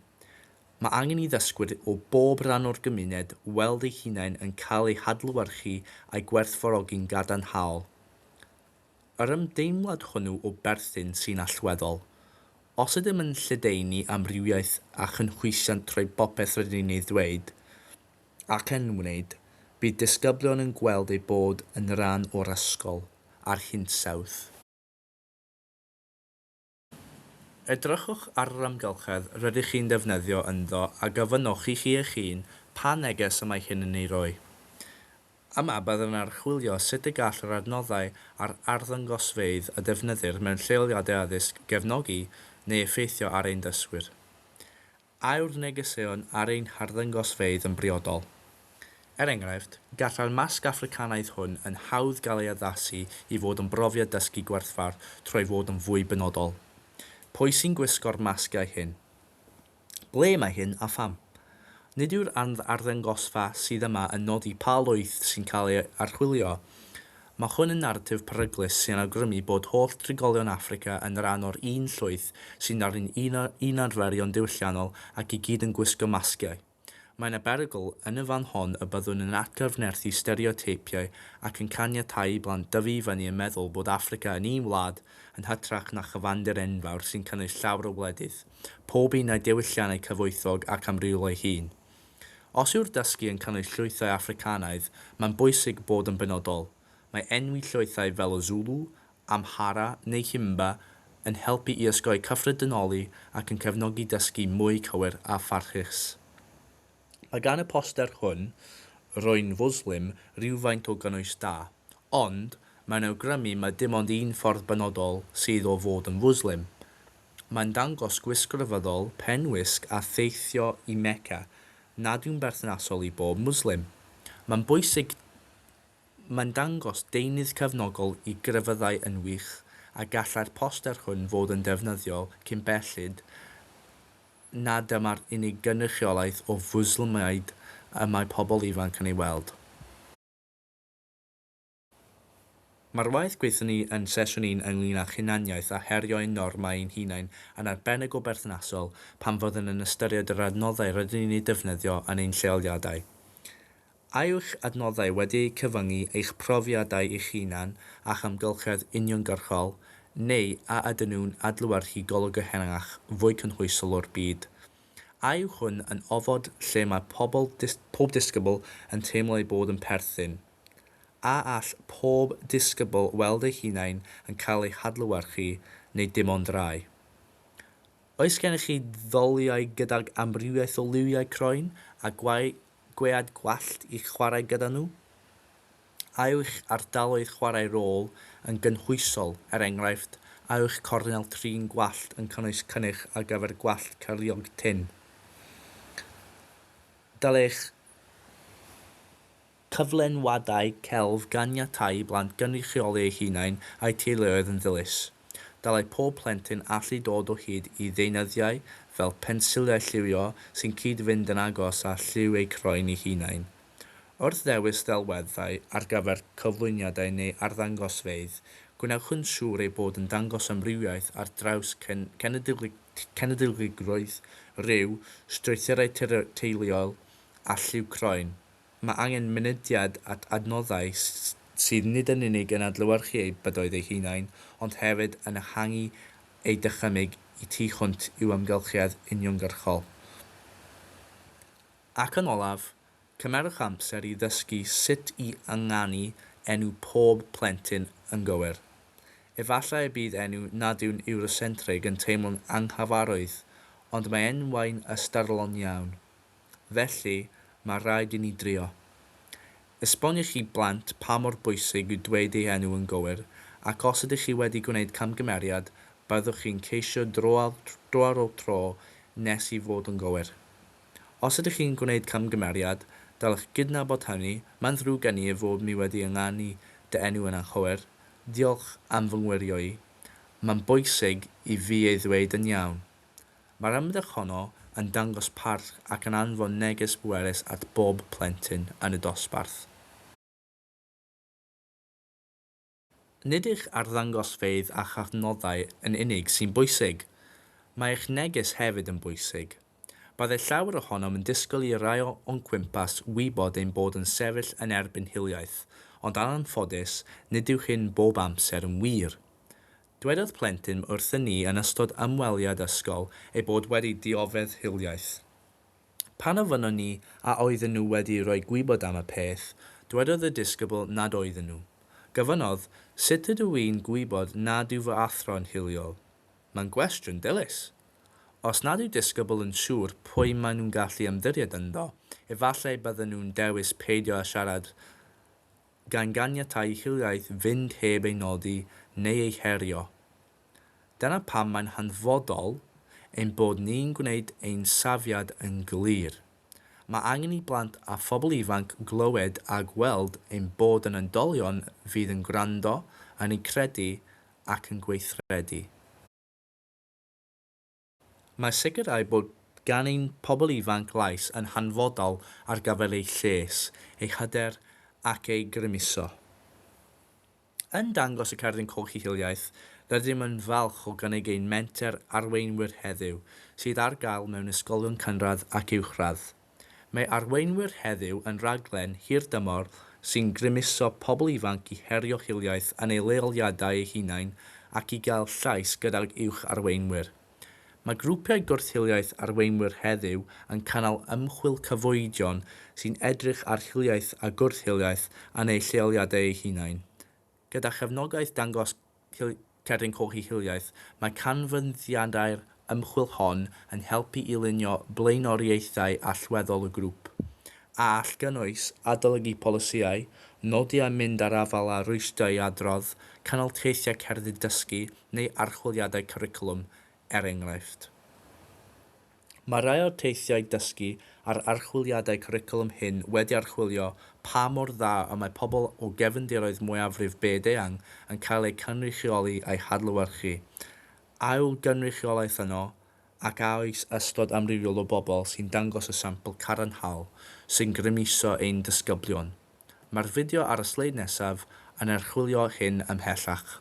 Mae angen i ddysgwyr o bob rhan o'r gymuned weld eu hunain yn cael eu hadlewyrchu a'u gwerthfawrogi'n gadarnhaol. Yr ymdeimlad hwnnw o berthyn sy'n allweddol. Os ydym yn lledaenu amrywiaeth a chynhwysiant trwy bopeth rydyn ni'n ei ddweud ac yn wneud, bydd disgyblion yn gweld eu bod yn rhan o'r ysgol a'r hinsawdd. Edrychwch ar yr amgylchedd rydych chi'n defnyddio ynddo a gofynnwch i chi eich hun pa neges y mae hyn yn ei roi. Yma byddwn yn archwilio sut y gall yr adnoddau a'r arddangosfeydd a defnyddir mewn lleoliadau addysg gefnogi neu effeithio ar ein dysgwyr. A yw'r negeseuon ar ein harddangosfeydd yn briodol? Er enghraifft, gallai'r masg Affricanaidd hwn yn hawdd gael ei addasu i fod yn brofiad dysgu gwerthfawr trwy fod yn fwy benodol. Pwy sy'n gwisgo'r masgiau hyn? Ble mae hyn a pham? Nid yw'r ardd-arddangosfa sydd yma yn nodi pa lwyth sy'n cael ei archwilio, Mae hwn yn naratif peryglus sy'n awgrymu bod holl drigolion Affrica yn rhan o'r un llwyth sy'n nari'n un arferion diwylliannol ac i gyd yn gwisgo masgiau. Mae yna berygl yn y fan hon y byddwn yn atgyfnerthu stereoteipiau ac yn caniatáu i blant dyfu i fyny yn meddwl bod Affrica yn un wlad yn hytrach na chyfandir enfawr sy'n cynnwys llawer o wledydd, pob un â'i diwylliannau cyfoethog ac amrywiol ei hun. Os yw'r dysgu yn cynnwys llwythau Affricanaidd, mae'n bwysig bod yn benodol. Mae enwi llwythau fel y Zulu, Amhara neu Himba yn helpu i osgoi cyffredinoli ac yn cefnogi dysgu mwy cywir a pharchus. Mae gan y poster hwn, Rwy'n Fwslim, rywfaint o gynnwys da. Ond, mae'n awgrymu mai dim ond un ffordd benodol sydd o fod yn Fwslim. Mae'n dangos gwisg ryfeddol, pen wisg a theithio i Mecca nad yw'n berthnasol i bob Mwslim. Mae'n bwysig Mae'n dangos deunydd cefnogol i grefyddau yn wych a gallai'r poster hwn fod yn ddefnyddiol cyn belled na dyma'r unig gynrychiolaeth o Fwslmiaid y mae pobl ifanc yn ei weld. Mae'r waith gweithio ni yn Sesiwn Un ynglŷn â'ch hunaniaeth a herio ein normau ein hunain yn arbennig o berthnasol pan fyddwn yn ystyried yr adnoddau rydyn ni'n eu defnyddio yn ein lleoliadau. A yw'ch adnoddau wedi eu cyfyngu i'ch profiadau eich hunan a'ch amgylchedd uniongyrchol, neu a ydyn nhw'n adlewyrchu golwg ehangach, fwy cynhwysol o'r byd? A yw hwn yn ofod lle mae pobl, pob disgybl, yn teimlo eu bod yn perthyn? A all pob disgybl weld eu hunain yn cael eu hadlewyrchu neu dim ond rhai? Oes gennych chi ddoliau gydag amrywiaeth o liwiau croen a gwead gwallt i'ch chwarae gyda nhw? A yw'ch ardaloedd chwarae rôl yn gynhwysol, er enghraifft, a yw'ch cornel trin gwallt yn cynnwys cynnyrch ar gyfer gwallt cyriog tynn? Dylech Cyflenwadau celf Ganiatáu i blant gynrychioli eu hunain a'u teuluoedd yn ddilys. Dylai pob plentyn allu dod o hyd i ddeunyddiau fel pensiliau lliwio sy'n cyd-fynd yn agos â lliw eu croen eu hunain. Wrth ddewis ddelweddau ar gyfer cyflwyniadau neu arddangosfeydd, gwnewch yn siŵr eu bod yn dangos amrywiaeth ar draws cenedligrwydd, rhyw, strwythurau teuluol a lliw croen. Mae angen mynediad at adnoddau sydd nid yn unig yn adlewyrchu eu bydoedd eu hunain, ond hefyd yn ehangu eu dychymyg y tu hwnt i'w amgylchiad uniongyrchol. Ac yn olaf, cymerwch amser i ddysgu sut i ynganu enw pob plentyn yn gywir. Efallai y bydd enw nad yw'n Eurocentrig yn teimlo'n anghyfarwydd, ond mae enwau'n ystyrlon iawn. Felly, mae rhaid i ni drio. Esbonio i chi blant pa mor bwysig yw dweud ei enw yn gywir, ac os ydych chi wedi gwneud camgymeriad, byddwch chi'n ceisio dro ar ôl tro nes i fod yn gywir. Os ydych chi'n gwneud camgymeriad, dylech gydnabod hynny, mae'n ddrwg gen i ei fod mi wedi ynganu dy enw yn anghywir, diolch am fy ngwirio i, mae'n bwysig i fi ei ddweud yn iawn. Mae'r ymdrech honno yn dangos parch ac yn anfon neges bwerus at bob plentyn yn y dosbarth. Nid eich arddangosfeydd a'ch adnoddau yn unig sy'n bwysig. Mae eich neges hefyd yn bwysig. Byddai llawer ohonom yn disgwyl i rai o'n cwmpas wybod ein bod yn sefyll yn erbyn hiliaeth, ond anffodus, nid yw hyn bob amser yn wir. Dwedodd plentyn wrthyn ni yn ystod ymweliad ysgol ei bod wedi dioddef hiliaeth. Pan ofynnon ni a oedden nhw wedi rhoi gwybod am y peth, dwedodd y disgybl nad oedden nhw. Gofynnodd, Sut ydw i'n gwybod nad yw fy athro'n hiliol? Mae'n gwestiwn dilys! Os nad yw disgybl yn siŵr pwy maen nhw'n gallu ymddiried ynddo, efallai bydden nhw'n dewis peidio â siarad gan ganiatáu hiliaeth fynd heb ei nodi neu ei herio. Dyna pam mae'n hanfodol ein bod ni'n gwneud ein safiad yn glir. Mae angen i blant a phobl ifanc glywed a gweld ein bod yn oedolion fydd yn gwrando, yn eu credu ac yn gweithredu. Mae sicrhau bod gan ein pobl ifanc lais yn hanfodol ar gyfer eu lles, eu hyder ac eu grymuso. Yn Dangos y Cerdyn Coch i Hiliaeth, rydym yn falch o gynnig ein menter arweinwyr heddiw, sydd ar gael mewn ysgolion cynradd ac uwchradd. Mae Arweinwyr Heddiw yn raglen hirdymor sy'n grymuso pobl ifanc i herio hiliaeth yn eu leoliadau eu hunain ac i gael llais gydag uwch arweinwyr. Mae grwpiau gwrth-hiliaeth Arweinwyr Heddiw yn cynnal ymchwil cyfoedion sy'n edrych ar hiliaeth a gwrth-hiliaeth yn eu lleoliadau eu hunain, gyda chefnogaeth Dangos Cerdyn Coch i Hiliaeth. Mae canfyddiadau'r ymchwil hon yn helpu i lunio blaenoriaethau allweddol y grŵp, a all gynnwys, adolygu polisïau, nodi a mynd â'r afael â rwystrau i adrodd, cynnal teithiau cerdyn dysgu neu archwiliadau cwricwlwm, er enghraifft. Mae rhai o'r teithiau dysgu a'r archwiliadau cwricwlwm hyn wedi archwilio pa mor dda y mae pobl o gefndiroedd mwyafrif byd-eang yn cael eu cynrychioli a'u hadlewyrchu, a yw'r gynrychiolaeth yno, ac a oes ystod amrywiol o bobl sy'n dangos y sampl cadarnhaol sy'n grymuso ein disgyblion. Mae'r fideo ar y sleid nesaf yn archwilio hyn ymhellach.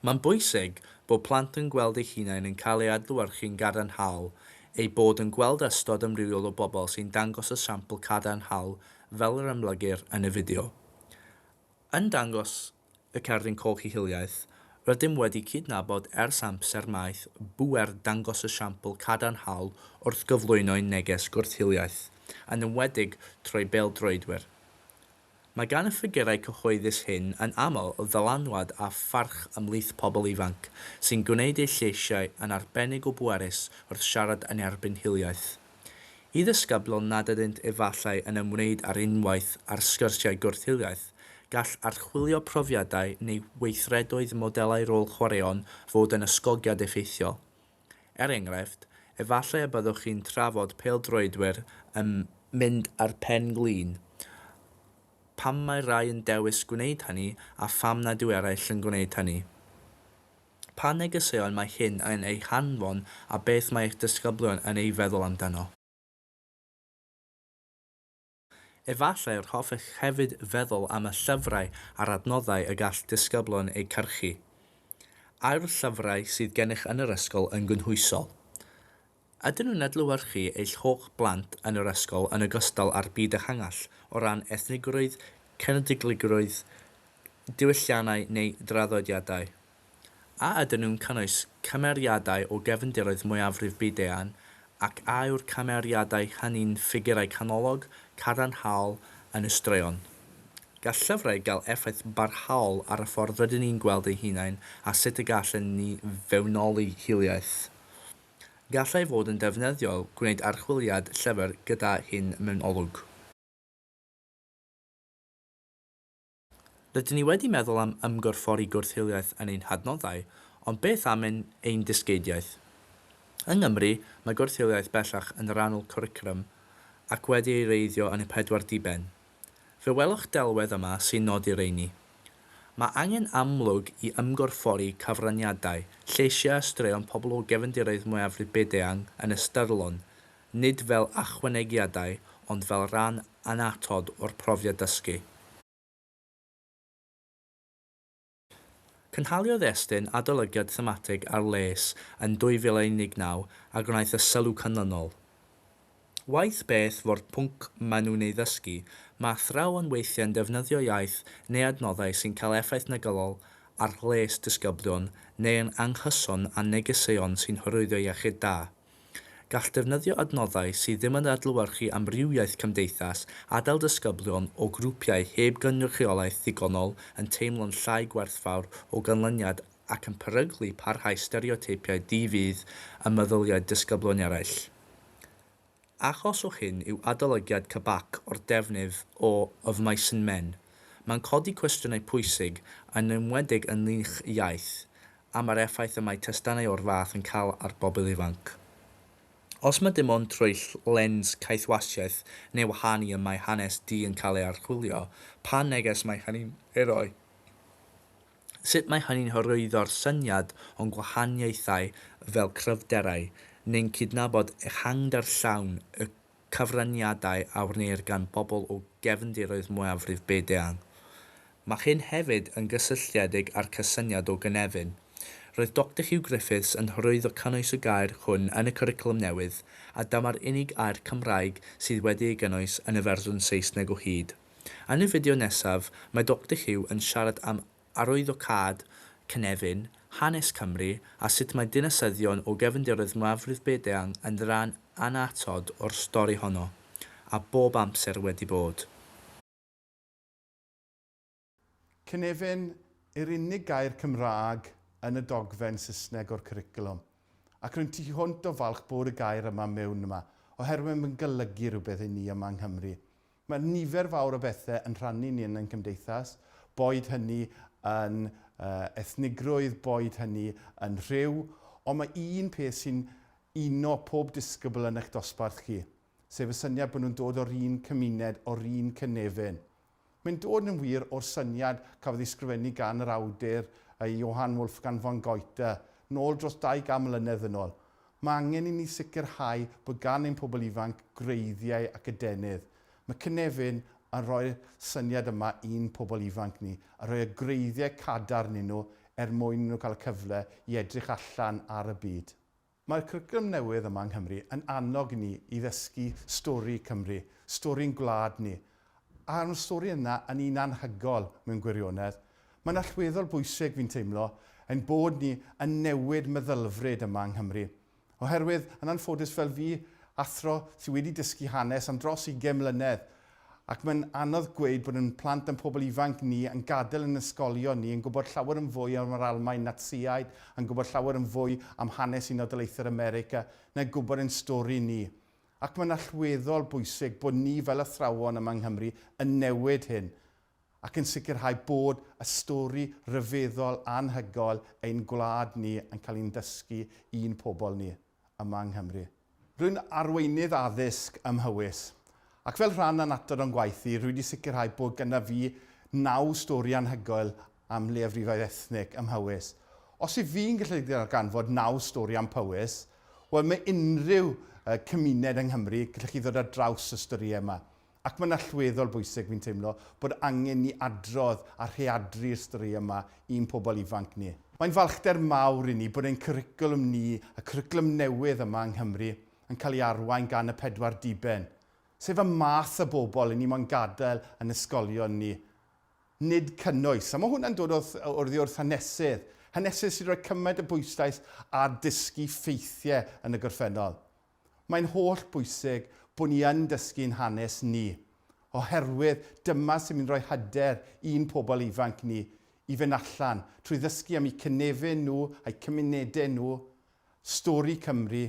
Mae'n bwysig bod plant yn gweld eu hunain yn cael eu adlewyrchu'n gadarnhaol, eu bod yn gweld ystod amrywiol o bobl sy'n dangos y sampl cadarnhaol fel yr amlygir yn y fideo. Yn dangos y cerdyn coch i hiliaeth, rydym wedi cydnabod ers amser maith bŵer dangos y siampl cadarnhaol wrth gyflwyno'n neges gwrth-hiliaeth, yn enwedig trwy bêl-droedwyr. Mae gan y ffigurau cyhoeddus hyn yn aml ddylanwad a pharch ymhlith pobl ifanc, sy'n gwneud eu lleisiau yn arbennig o bwerus wrth siarad yn erbyn hiliaeth. Y ddisgyblion nad ydynt efallai yn ymwneud ar unwaith â'r sgyrsiau gwrth-hiliaeth, gall archwilio profiadau neu weithredoedd modelau rôl chwaraeon fod yn ysgogiad effeithiol. Er enghraifft, efallai y byddwch chi'n trafod pêl-droedwyr yn mynd â'r pen glin, pam mae rhai yn dewis gwneud hynny a pham nad yw eraill yn gwneud hynny. Pa negeseuon mae hyn yn eu hanfon a beth mae eich disgyblion yn ei feddwl amdano? Efallai yr hoffech hefyd feddwl am y llyfrau a'r adnoddau y gall disgyblion eu cyrchu. Ai'r llyfrau sydd gennych yn yr ysgol yn gynhwysol? Ydyn nhw'n adlewyrchu eich holl blant yn yr ysgol yn ogystal â'r byd ehangach o ran ethnigrwydd, cenedligrwydd, diwylliannau neu draddodiadau? A ydyn nhw'n cynnwys cymeriadau o gefndiroedd mwyafrif byd-eang ac a yw'r cymeriadau hynny'n ffigurau canolog, cadarnhaol yn y straeon? Gall llyfrau gael effaith barhaol ar y ffordd rydyn ni'n gweld ein hunain a sut y gallen ni fewnoli hiliaeth. Gallai fod yn ddefnyddiol gwneud archwiliad llyfr gyda hyn mewn olwg. Rydyn ni wedi meddwl am ymgorffori gwrth-hiliaeth yn ein hadnoddau, ond beth am ein ein dysgeidiaeth? Yng Nghymru, mae gwrth-hiliaeth bellach yn rhan o'l cwricwlwm ac wedi ei wreiddio yn y pedwar diben. Fe welwch delwedd yma sy'n nodi rheini. Mae angen amlwg i ymgorffori cyfraniadau, lleisiau a straeon pobl o gefndiroedd mwyafrif byd-eang yn ystyrlon, nid fel ychwanegiadau ond fel rhan annatod o'r profiad dysgu. Cynhaliodd Estyn adolygiad thematig ar les yn 2019 a gwnaeth y sylw canlynol, Waeth beth fo'r pwnc maen nhw'n ei ddysgu, mae athrawon weithiau'n defnyddio iaith neu adnoddau sy'n cael effaith negyddol ar lles disgyblion neu yn anghyson â negeseuon sy'n hyrwyddo iechyd da. Gall defnyddio adnoddau sydd ddim yn adlewyrchu amrywiaeth cymdeithas adael disgyblion o grwpiau heb gynrychiolaeth ddigonol yn teimlo'n llai gwerthfawr o ganlyniad ac yn peryglu parhau stereoteipiau di-fudd ym meddyliau disgyblioneraill. Achos o hyn yw adolygiad CBAC o'r defnydd o Of Mice and Men. Mae'n codi cwestiynau pwysig, yn enwedig ynghylch iaith, am yr effaith y mae testunau o'r fath yn cael ar bobl ifanc. Os mae dim ond trwy lens caethwasiaeth neu wahân i y mae hanes du yn cael ei archwilio, pa neges mae hynny'n ei roi? Sut mae hynny'n hyrwyddo'r syniad o'n gwahaniaethau fel cryfderau, neu'n cydnabod ehangder llawn y cyfraniadau a wneir gan bobl o gefndiroedd mwyafrif byd eang. Mae hyn hefyd yn gysylltiedig â'r cysyniad o gynefin. Roedd Doctor Huw Griffiths yn hyrwyddo cynnwys y gair hwn yn y cwricwlwm newydd, a dyma'r unig air Cymraeg sydd wedi ei gynnwys yn y fersiwn Saesneg o hyd. Yn y fideo nesaf, mae Doctor Huw yn siarad am arwyddocâd cynefin, hanes Cymru, a sut mae dinasyddion o gefndiroedd mwyafrif byd-eang yn ran annatod o'r stori honno, a bob amser wedi bod. Cynefin yw'r unig gair Cymraeg yn y dogfen Saesneg o'r cwricwlwm, ac rwy'n tu hwnt o falch bod y gair yma miwn yma, oherwydd mae'n golygu rhywbeth i ni yma yng Nghymru. Mae nifer fawr o bethau yn rhannu ni yn ein cymdeithas, boed hynny yn ethnigrwydd, boed hynny yn rhyw, ond mae un peth sy'n uno pob disgybl yn eich dosbarth chi, sef y syniad bod nhw'n dod o'r un cymuned, o'r un cynefin. Mae'n dod yn wir o'r syniad cafodd ei sgrifennu gan yr awdur Johann Wolfgang von Goethe, nôl dros 200 mlynedd yn ôl. Mae angen i ni sicrhau bod gan ein pobl ifanc gwreiddiau ac adenydd. Mae cynefin yn rhoi'r syniad yma i'n pobl ifanc ni, a rhoi y gwreiddiau cadarn i nhw er mwyn i nhw cael y cyfle i edrych allan ar y byd. Mae'r cwricwlwm newydd yma yng Nghymru yn annog ni i ddysgu stori Cymru, stori'n gwlad ni, A'r stori yna yn un anhygoel mewn gwirionedd. Mae'n allweddol bwysig, fi'n teimlo, ein bod ni yn newid meddylfryd yma yng Nghymru. Oherwydd, yn anffodus fel fi, athro sydd wedi dysgu hanes am dros ugain mlynedd, ac mae'n anodd gweud bod ein plant a'n pobl ifanc ni yn gadael ein ysgolion ni yn gwybod llawer yn fwy am yr Almaen Natsïaid, yn gwybod llawer yn fwy am hanes Unol Daleithiau'r America, na gwybod ein stori ni. Ac mae'n allweddol bwysig bod ni fel athrawon yma yng Nghymru yn newid hyn ac yn sicrhau bod y stori ryfeddol anhygoel ein gwlad ni yn cael ein dysgu i'n pobl ni yma yng Nghymru. Rwy'n arweinydd addysg ym Mhowys, ac fel rhan anatod o'n gwaith i, rwy wedi sicrhau bod gyda fi naw stori anhygoel am leiafrifoedd ethnig ym Mhowys. Os yw fi'n gallu darganfod naw stori am Powys, wel mae unrhyw uh, cymuned yng Nghymru, gallwch chi ddod ar draws y storïau yma. Ac mae'n allweddol bwysig, fi'n teimlo, bod angen ni adrodd a rheadru'r storïau yma i'n pobl ifanc ni. Mae'n falchder mawr i ni bod ein cwricwlwm ni, y cwricwlwm newydd yma yng Nghymru, yn cael ei arwain gan y pedwar diben, sef y math o bobl i ni moyn gadael yn ysgolion ni. nid cynnwys. A mae hwnna'n dod wrth, oddi wrth hanesydd. Hanesydd sy'n rhoi cymaint o bwyslais ar dysgu ffeithiau yn y gorffennol. Mae'n holl bwysig bod ni yn dysgu'n hanes ni, oherwydd dyma sy'n mynd i roi hyder i'n pobl ifanc ni i fynd allan, trwy ddysgu am eu cynefin nhw, a'u cymunedau nhw, stori Cymru,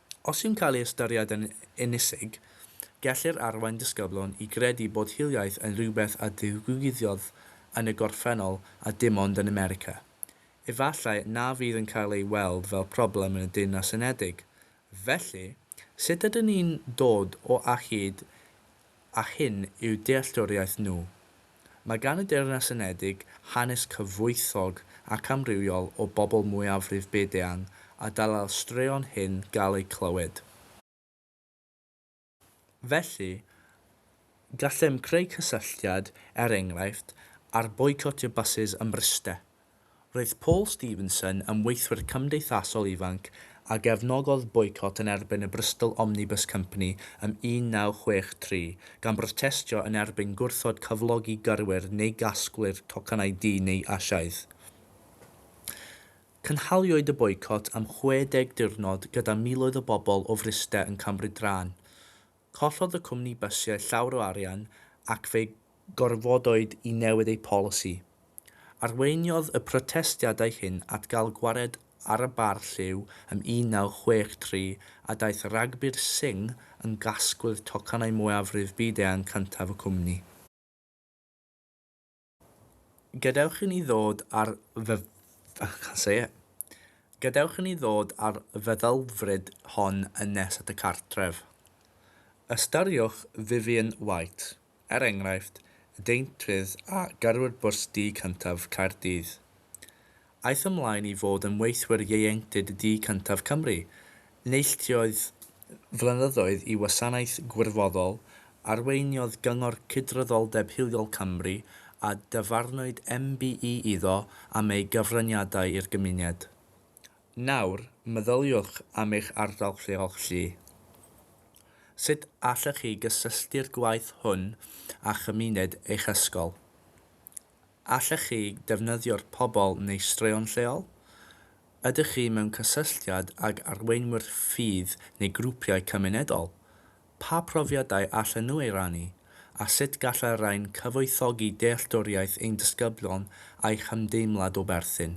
Os yw'n cael ei ystyried yn ynysig, gellir arwain disgyblion i gredu bod hiliaeth yn rhywbeth a ddigwyddodd yn y gorffennol a dim ond yn America. Efallai na fydd yn cael ei weld fel problem yn y Deyrnas Unedig. Felly, sut ydyn ni'n dod o a hyd ac hyn yw dealltwriaeth nhw. Mae gan y Deyrnas Unedig hanes cyfoethog ac amrywiol o bobl mwyafrif byd-eang a dylai'r straeon hyn gael eu clywed. Felly, gallem greu cysylltiad, er enghraifft, ar boicotio bysus ym Mryste, Roedd Paul Stevenson yn weithwyr cymdeithasol ifanc a gefnogodd boicot yn erbyn y Bristol Omnibus Company ym 1963, gan brotestio yn erbyn gwrthod cyflogi gyrwyr neu gasglwyr tocynnau du neu Asiaidd. Cynhaliwyd y boicot am 60 diwrnod gyda miloedd o bobl o Fryste yn cymryd rhan. Collodd y cwmni bysiau llawr o arian ac fe gorfodwyd i newid eu polisi. Arweiniodd y protestiadau hyn at gael gwared ar y bar lliw ym 1963 a daeth Ragbir Singh yn gasglydd tocynnau mwyafrif byd-eang cyntaf y cwmni. Gadewch i ni ddod â'r Gadewch i ni ddod â'r feddylfryd hon yn nes at y cartref. Ystyriwch Vivian White, er enghraifft, y deintydd a gyrrwyd bws du cyntaf Caerdydd. Aeth ymlaen i fod yn weithwyr ieuenctid du cyntaf Cymru, neilltuodd flynyddoedd i wasanaeth gwirfoddol, arweiniodd Gyngor Cydraddoldeb Hiliol Cymru a dyfarnwyd MBE iddo am ei gyfraniadau i'r gymuned. Nawr, meddyliwch am eich ardal lleol chi. Sut allech chi gysylltu'r gwaith hwn â chymuned eich ysgol? Allech chi ddefnyddio'r pobl neu straeon lleol? Ydych chi mewn cysylltiad ag arweinwyr ffydd neu grwpiau cymunedol? Pa profiadau allan nhw ei rannu, a sut gall y rhain cyfoethogi dealltwriaeth ein disgyblion a'u hymdeimlad o berthyn?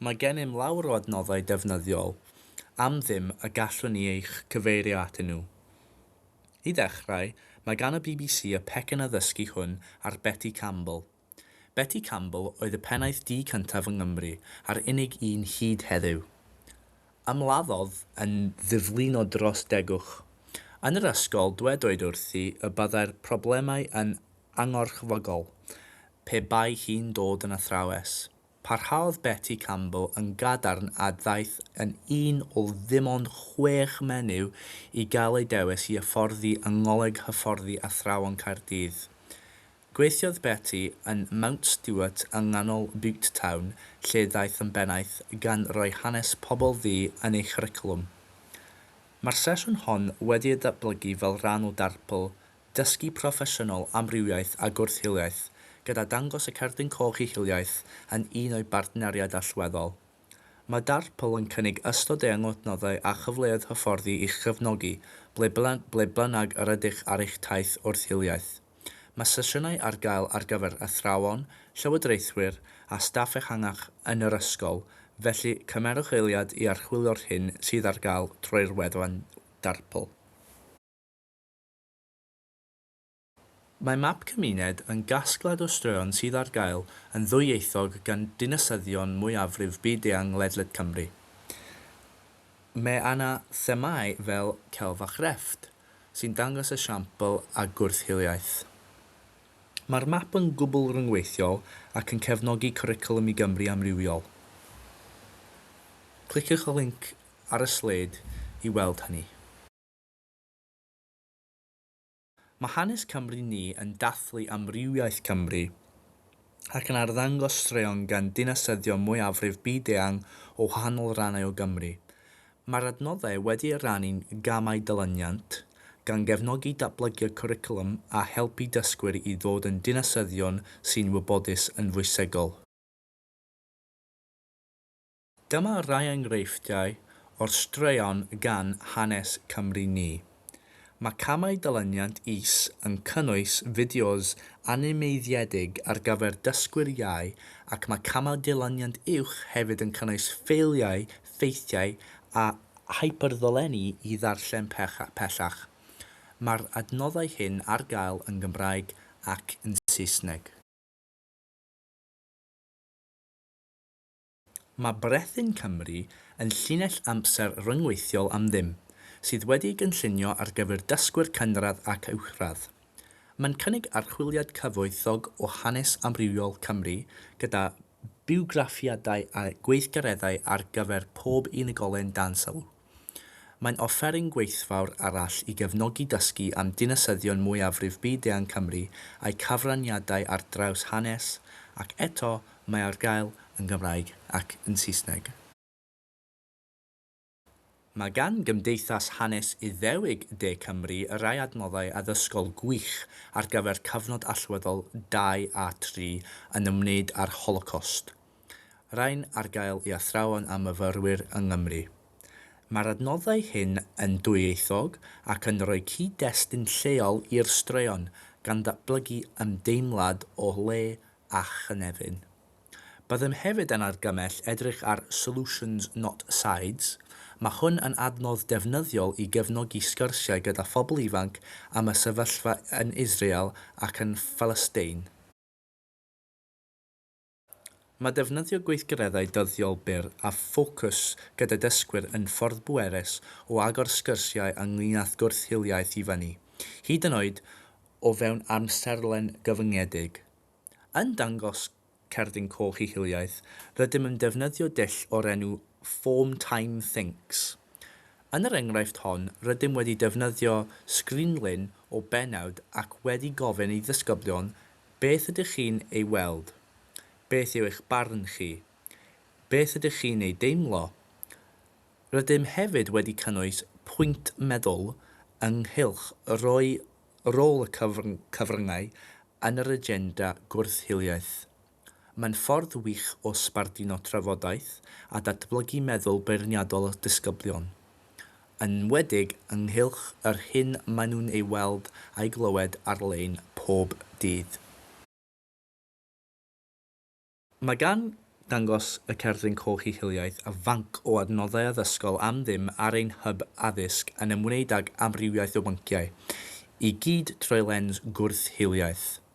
Mae gennym lawr o adnoddau defnyddiol am ddim y gallwn ni eich cyfeirio atyn nhw. I ddechrau, mae gan y bbc y pecyn addysgu hwn ar Betty Campbell. Betty Campbell oedd y pennaeth du cyntaf yng Nghymru a'r unig un hyd heddiw. Ymladdodd yn ddiflino dros degwch. Yn yr ysgol, dwedwyd wrthi y byddai'r problemau yn angorchfygol, pe bai hi'n dod yn athrawes. Parhaodd Betty Campbell yn gadarn a ddaeth yn un o ddim ond chwech menyw i gael eu dewis i hyfforddi yng Ngholeg Hyfforddi Athrawon Caerdydd. Gweithiodd Betty yn Mount Stuart yng nghanol Bute Town lle ddaeth yn bennaeth gan roi hanes pobl ddu yn ei chwricwlwm. Mae'r sesiwn hon wedi ei datblygu fel rhan o darpl Dysgu proffesiynol, amrywiaeth a gwrth-hiliaeth, gyda dangos y Cerdyn Coch i Hiliaeth yn un o'i bartneriaid allweddol. Mae DARPL yn cynnig ystod eang o adnoddau a chyfleoedd hyfforddi i'ch cefnogi ble ble bynnag yr ydych ar eich taith wrth-hiliaeth. Mae sesiynau ar gael ar gyfer athrawon, llywodraethwyr a staff ehangach yn yr ysgol, felly cymerwch eiliad i archwilio'r hyn sydd ar gael trwy'r wefan DARPL. Mae Map Cymuned yn gasgliad o straeon sydd ar gael yn ddwyieithog gan dinasyddion mwyafrif byd-eang ledled Cymru. Mae yna themâu fel celf a chrefft, sy'n dangos esiampl a gwrth-hiliaeth. Mae'r map yn gwbl ryngweithiol ac yn cefnogi Cwricwlwm i Gymru amrywiol. Cliciwch y linc ar y sleid i weld hynny. Mae Hanes Cymru Ni yn dathlu amrywiaeth Cymru ac yn arddangos straeon gan dinasyddion mwyafrif byd-eang o wahanol rannau o Gymru. Mae'r adnoddau wedi eu rhannu'n gamau dilyniant, gan gefnogi datblygu'r cwricwlwm a helpu dysgwyr i ddod yn dinasyddion sy'n wybodus yn fwysegol. Dyma rai enghreifftiau o'r straeon gan Hanes Cymru Ni. Mae camau dilyniant is yn cynnwys fideos animeiddiedig ar gyfer dysgwyr iau ac mae camau dilyniant uwch hefyd yn cynnwys ffeiliau, ffeithiau a hyperddolenni i ddarllen pellach. Mae'r adnoddau hyn ar gael yn Gymraeg ac yn Saesneg. Mae Brethyn Cymru yn llinell amser ryngweithiol am ddim, sydd wedi'i gynllunio ar gyfer dysgwyr cynradd ac uwchradd. Mae'n cynnig archwiliad cyfoethog o hanes amrywiol Cymru, gyda biwgraffiadau a gweithgareddau ar gyfer pob unigolyn dan sylw. Mae'n offeryn gweithfawr arall i gefnogi dysgu am dinasyddion mwyafrif byd-eang Cymru a'u cyfraniadau ar draws hanes, ac eto, mae ar gael yn Gymraeg ac yn Saesneg. Mae gan Gymdeithas Hanes Iddewig De Cymru rai adnoddau addysgol gwych ar gyfer cyfnod allweddol 2 a 3 yn ymwneud â'r Holocost. Rhain ar gael i athrawon a myfyrwyr yng Nghymru. Mae'r adnoddau hyn yn dwyieithog ac yn rhoi cyd-destun lleol i'r straeon, gan ddatblygu ymdeimlad o le a chynefin. Byddem hefyd yn argymell edrych ar Solutions Not Sides, mae hwn yn adnodd defnyddiol i gefnogi sgyrsiau gyda phobl ifanc am y sefyllfa yn Israel ac yn Phalastein. Mae defnyddio gweithgareddau dyddiol byr a ffocws gyda dysgwyr yn ffordd bwerus o agor sgyrsiau ynglŷn â'th gwrth-hiliaeth i fyny, hyd yn oed o fewn amserlen gyfyngedig. Yn dangos Cerdyn Coch ei hiliaeth, rydym yn defnyddio dull o'r enw 'Form Time Thinks'. Yn yr enghraifft hon, rydym wedi defnyddio sgrinlun o bennawd ac wedi gofyn i ddisgyblion beth ydych chi'n ei weld? Beth yw eich barn chi? Beth ydych chi'n ei deimlo? Rydym hefyd wedi cynnwys pwynt meddwl ynghylch rhoi rôl y cyfryngau yn yr agenda gwrth-hiliaeth. Mae'n ffordd wych o sbarduno trafodaeth a datblygu meddwl beirniadol disgyblion, yn enwedig ynghylch yr hyn maen nhw'n ei weld a'i glywed ar-lein pob dydd. Mae gan Dangos y Cerdyn Coch ei hiliaeth a fanc o adnoddau addysgol am ddim ar ein hyb addysg yn ymwneud ag amrywiaeth o bynciau, i gyd trwy lens gwrth-hiliaeth.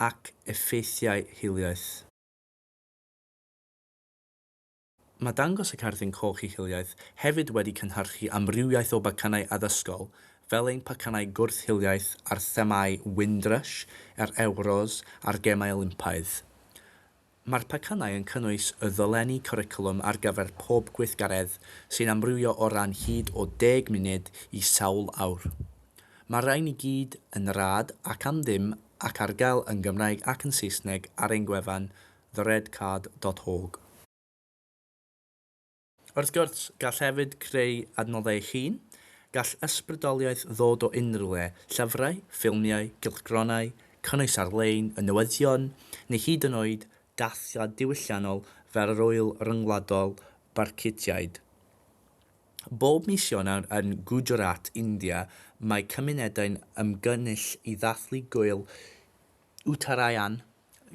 ac effeithiau hiliaeth. Mae dangos y Cerdyn Coch i Hiliaeth hefyd wedi cynhyrchu amrywiaeth o bacanau addysgol, fel ein pacanau gwrth-hiliaeth ar themâu Windrush, yr Ewros a'r Gemau Olympaidd. Mae'r pecynau yn cynnwys y ddolenni cwricwlwm ar gyfer pob gweithgaredd sy'n amrywio o ran hyd o deg munud i sawl awr. Mae'r rhain i gyd yn rhad ac am ddim ac ar gael yn Gymraeg ac yn Saesneg ar ein gwefan theredcard.org. Wrth gwrs, gall hefyd creu adnoddau eich hun, gall ysbrydoliaeth ddod o unrhyw le, llyfrau, ffilmiau, cylchgronau, cynnwys ar-lein, y newyddion, neu hyd yn oed dathliad diwylliannol fel yr Ŵyl Ryngwladol Barcutiaid. Bob mis Ionawr yn Gujarat, India, mae cymunedau'n ymgynnull i ddathlu Gŵyl Uttarayan,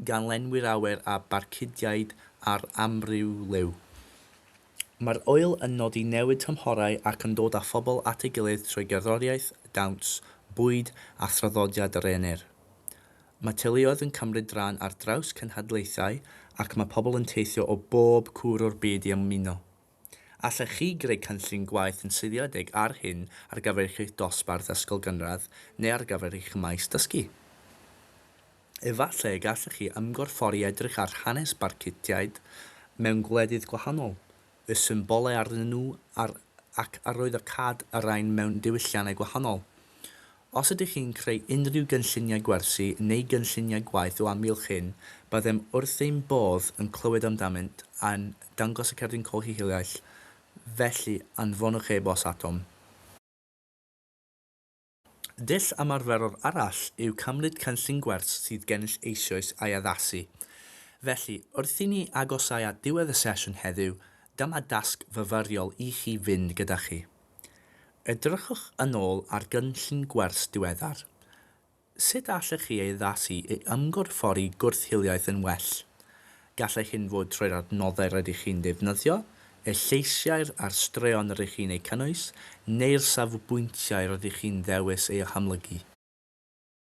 ganllenwi'r awyr â barcudiaid ar amryw liw. Mae'r ŵyl yn nodi newid tymhorau ac yn dod â phobl at ei gilydd trwy gerddoriaeth, dawns, bwyd a thraddodiad yr Aenir. Mae teuluoedd yn cymryd rhan ar draws cenhedlaethau ac mae pobl yn teithio o bob cwr o'r byd i ymuno. Allech chi greu cynllun gwaith yn seiliedig ar hyn ar gyfer eich dosbarth ysgol gynradd neu ar gyfer eich maes dysgu. Efallai y gallech chi ymgorffori edrych ar hanes Barcutiaid mewn gwledydd gwahanol, y symbolau arnyn nhw a'r ac arwyddocâd y rhain mewn diwylliannau gwahanol. Os ydych chi'n creu unrhyw gynlluniau gwersi neu gynlluniau gwaith o amgylch hyn, byddem wrth ein bodd yn clywed amdanynt yn Dangos y Cerdyn Colli Hiliaeth, felly anfonwch e-bost atom. Dull ymarferol arall yw cymryd cynllun gwers sydd gennych eisoes a'i addasu. Felly, wrth i ni agosáu at ddiwedd y sesiwn heddiw, dyma dasg fyfyriol i chi fynd gyda chi. Edrychwch yn ôl ar gynllun gwers diweddar. Sut allech chi ei addasu i ymgorffori gwrth-hiliaeth yn well? Gallai hyn fod trwy'r adnoddau rydych chi'n ddefnyddio, y lleisiau'r a'r straeon rydych chi'n eu cynnwys, neu'r safbwyntiau rydych chi'n ddewis eu hamlygu.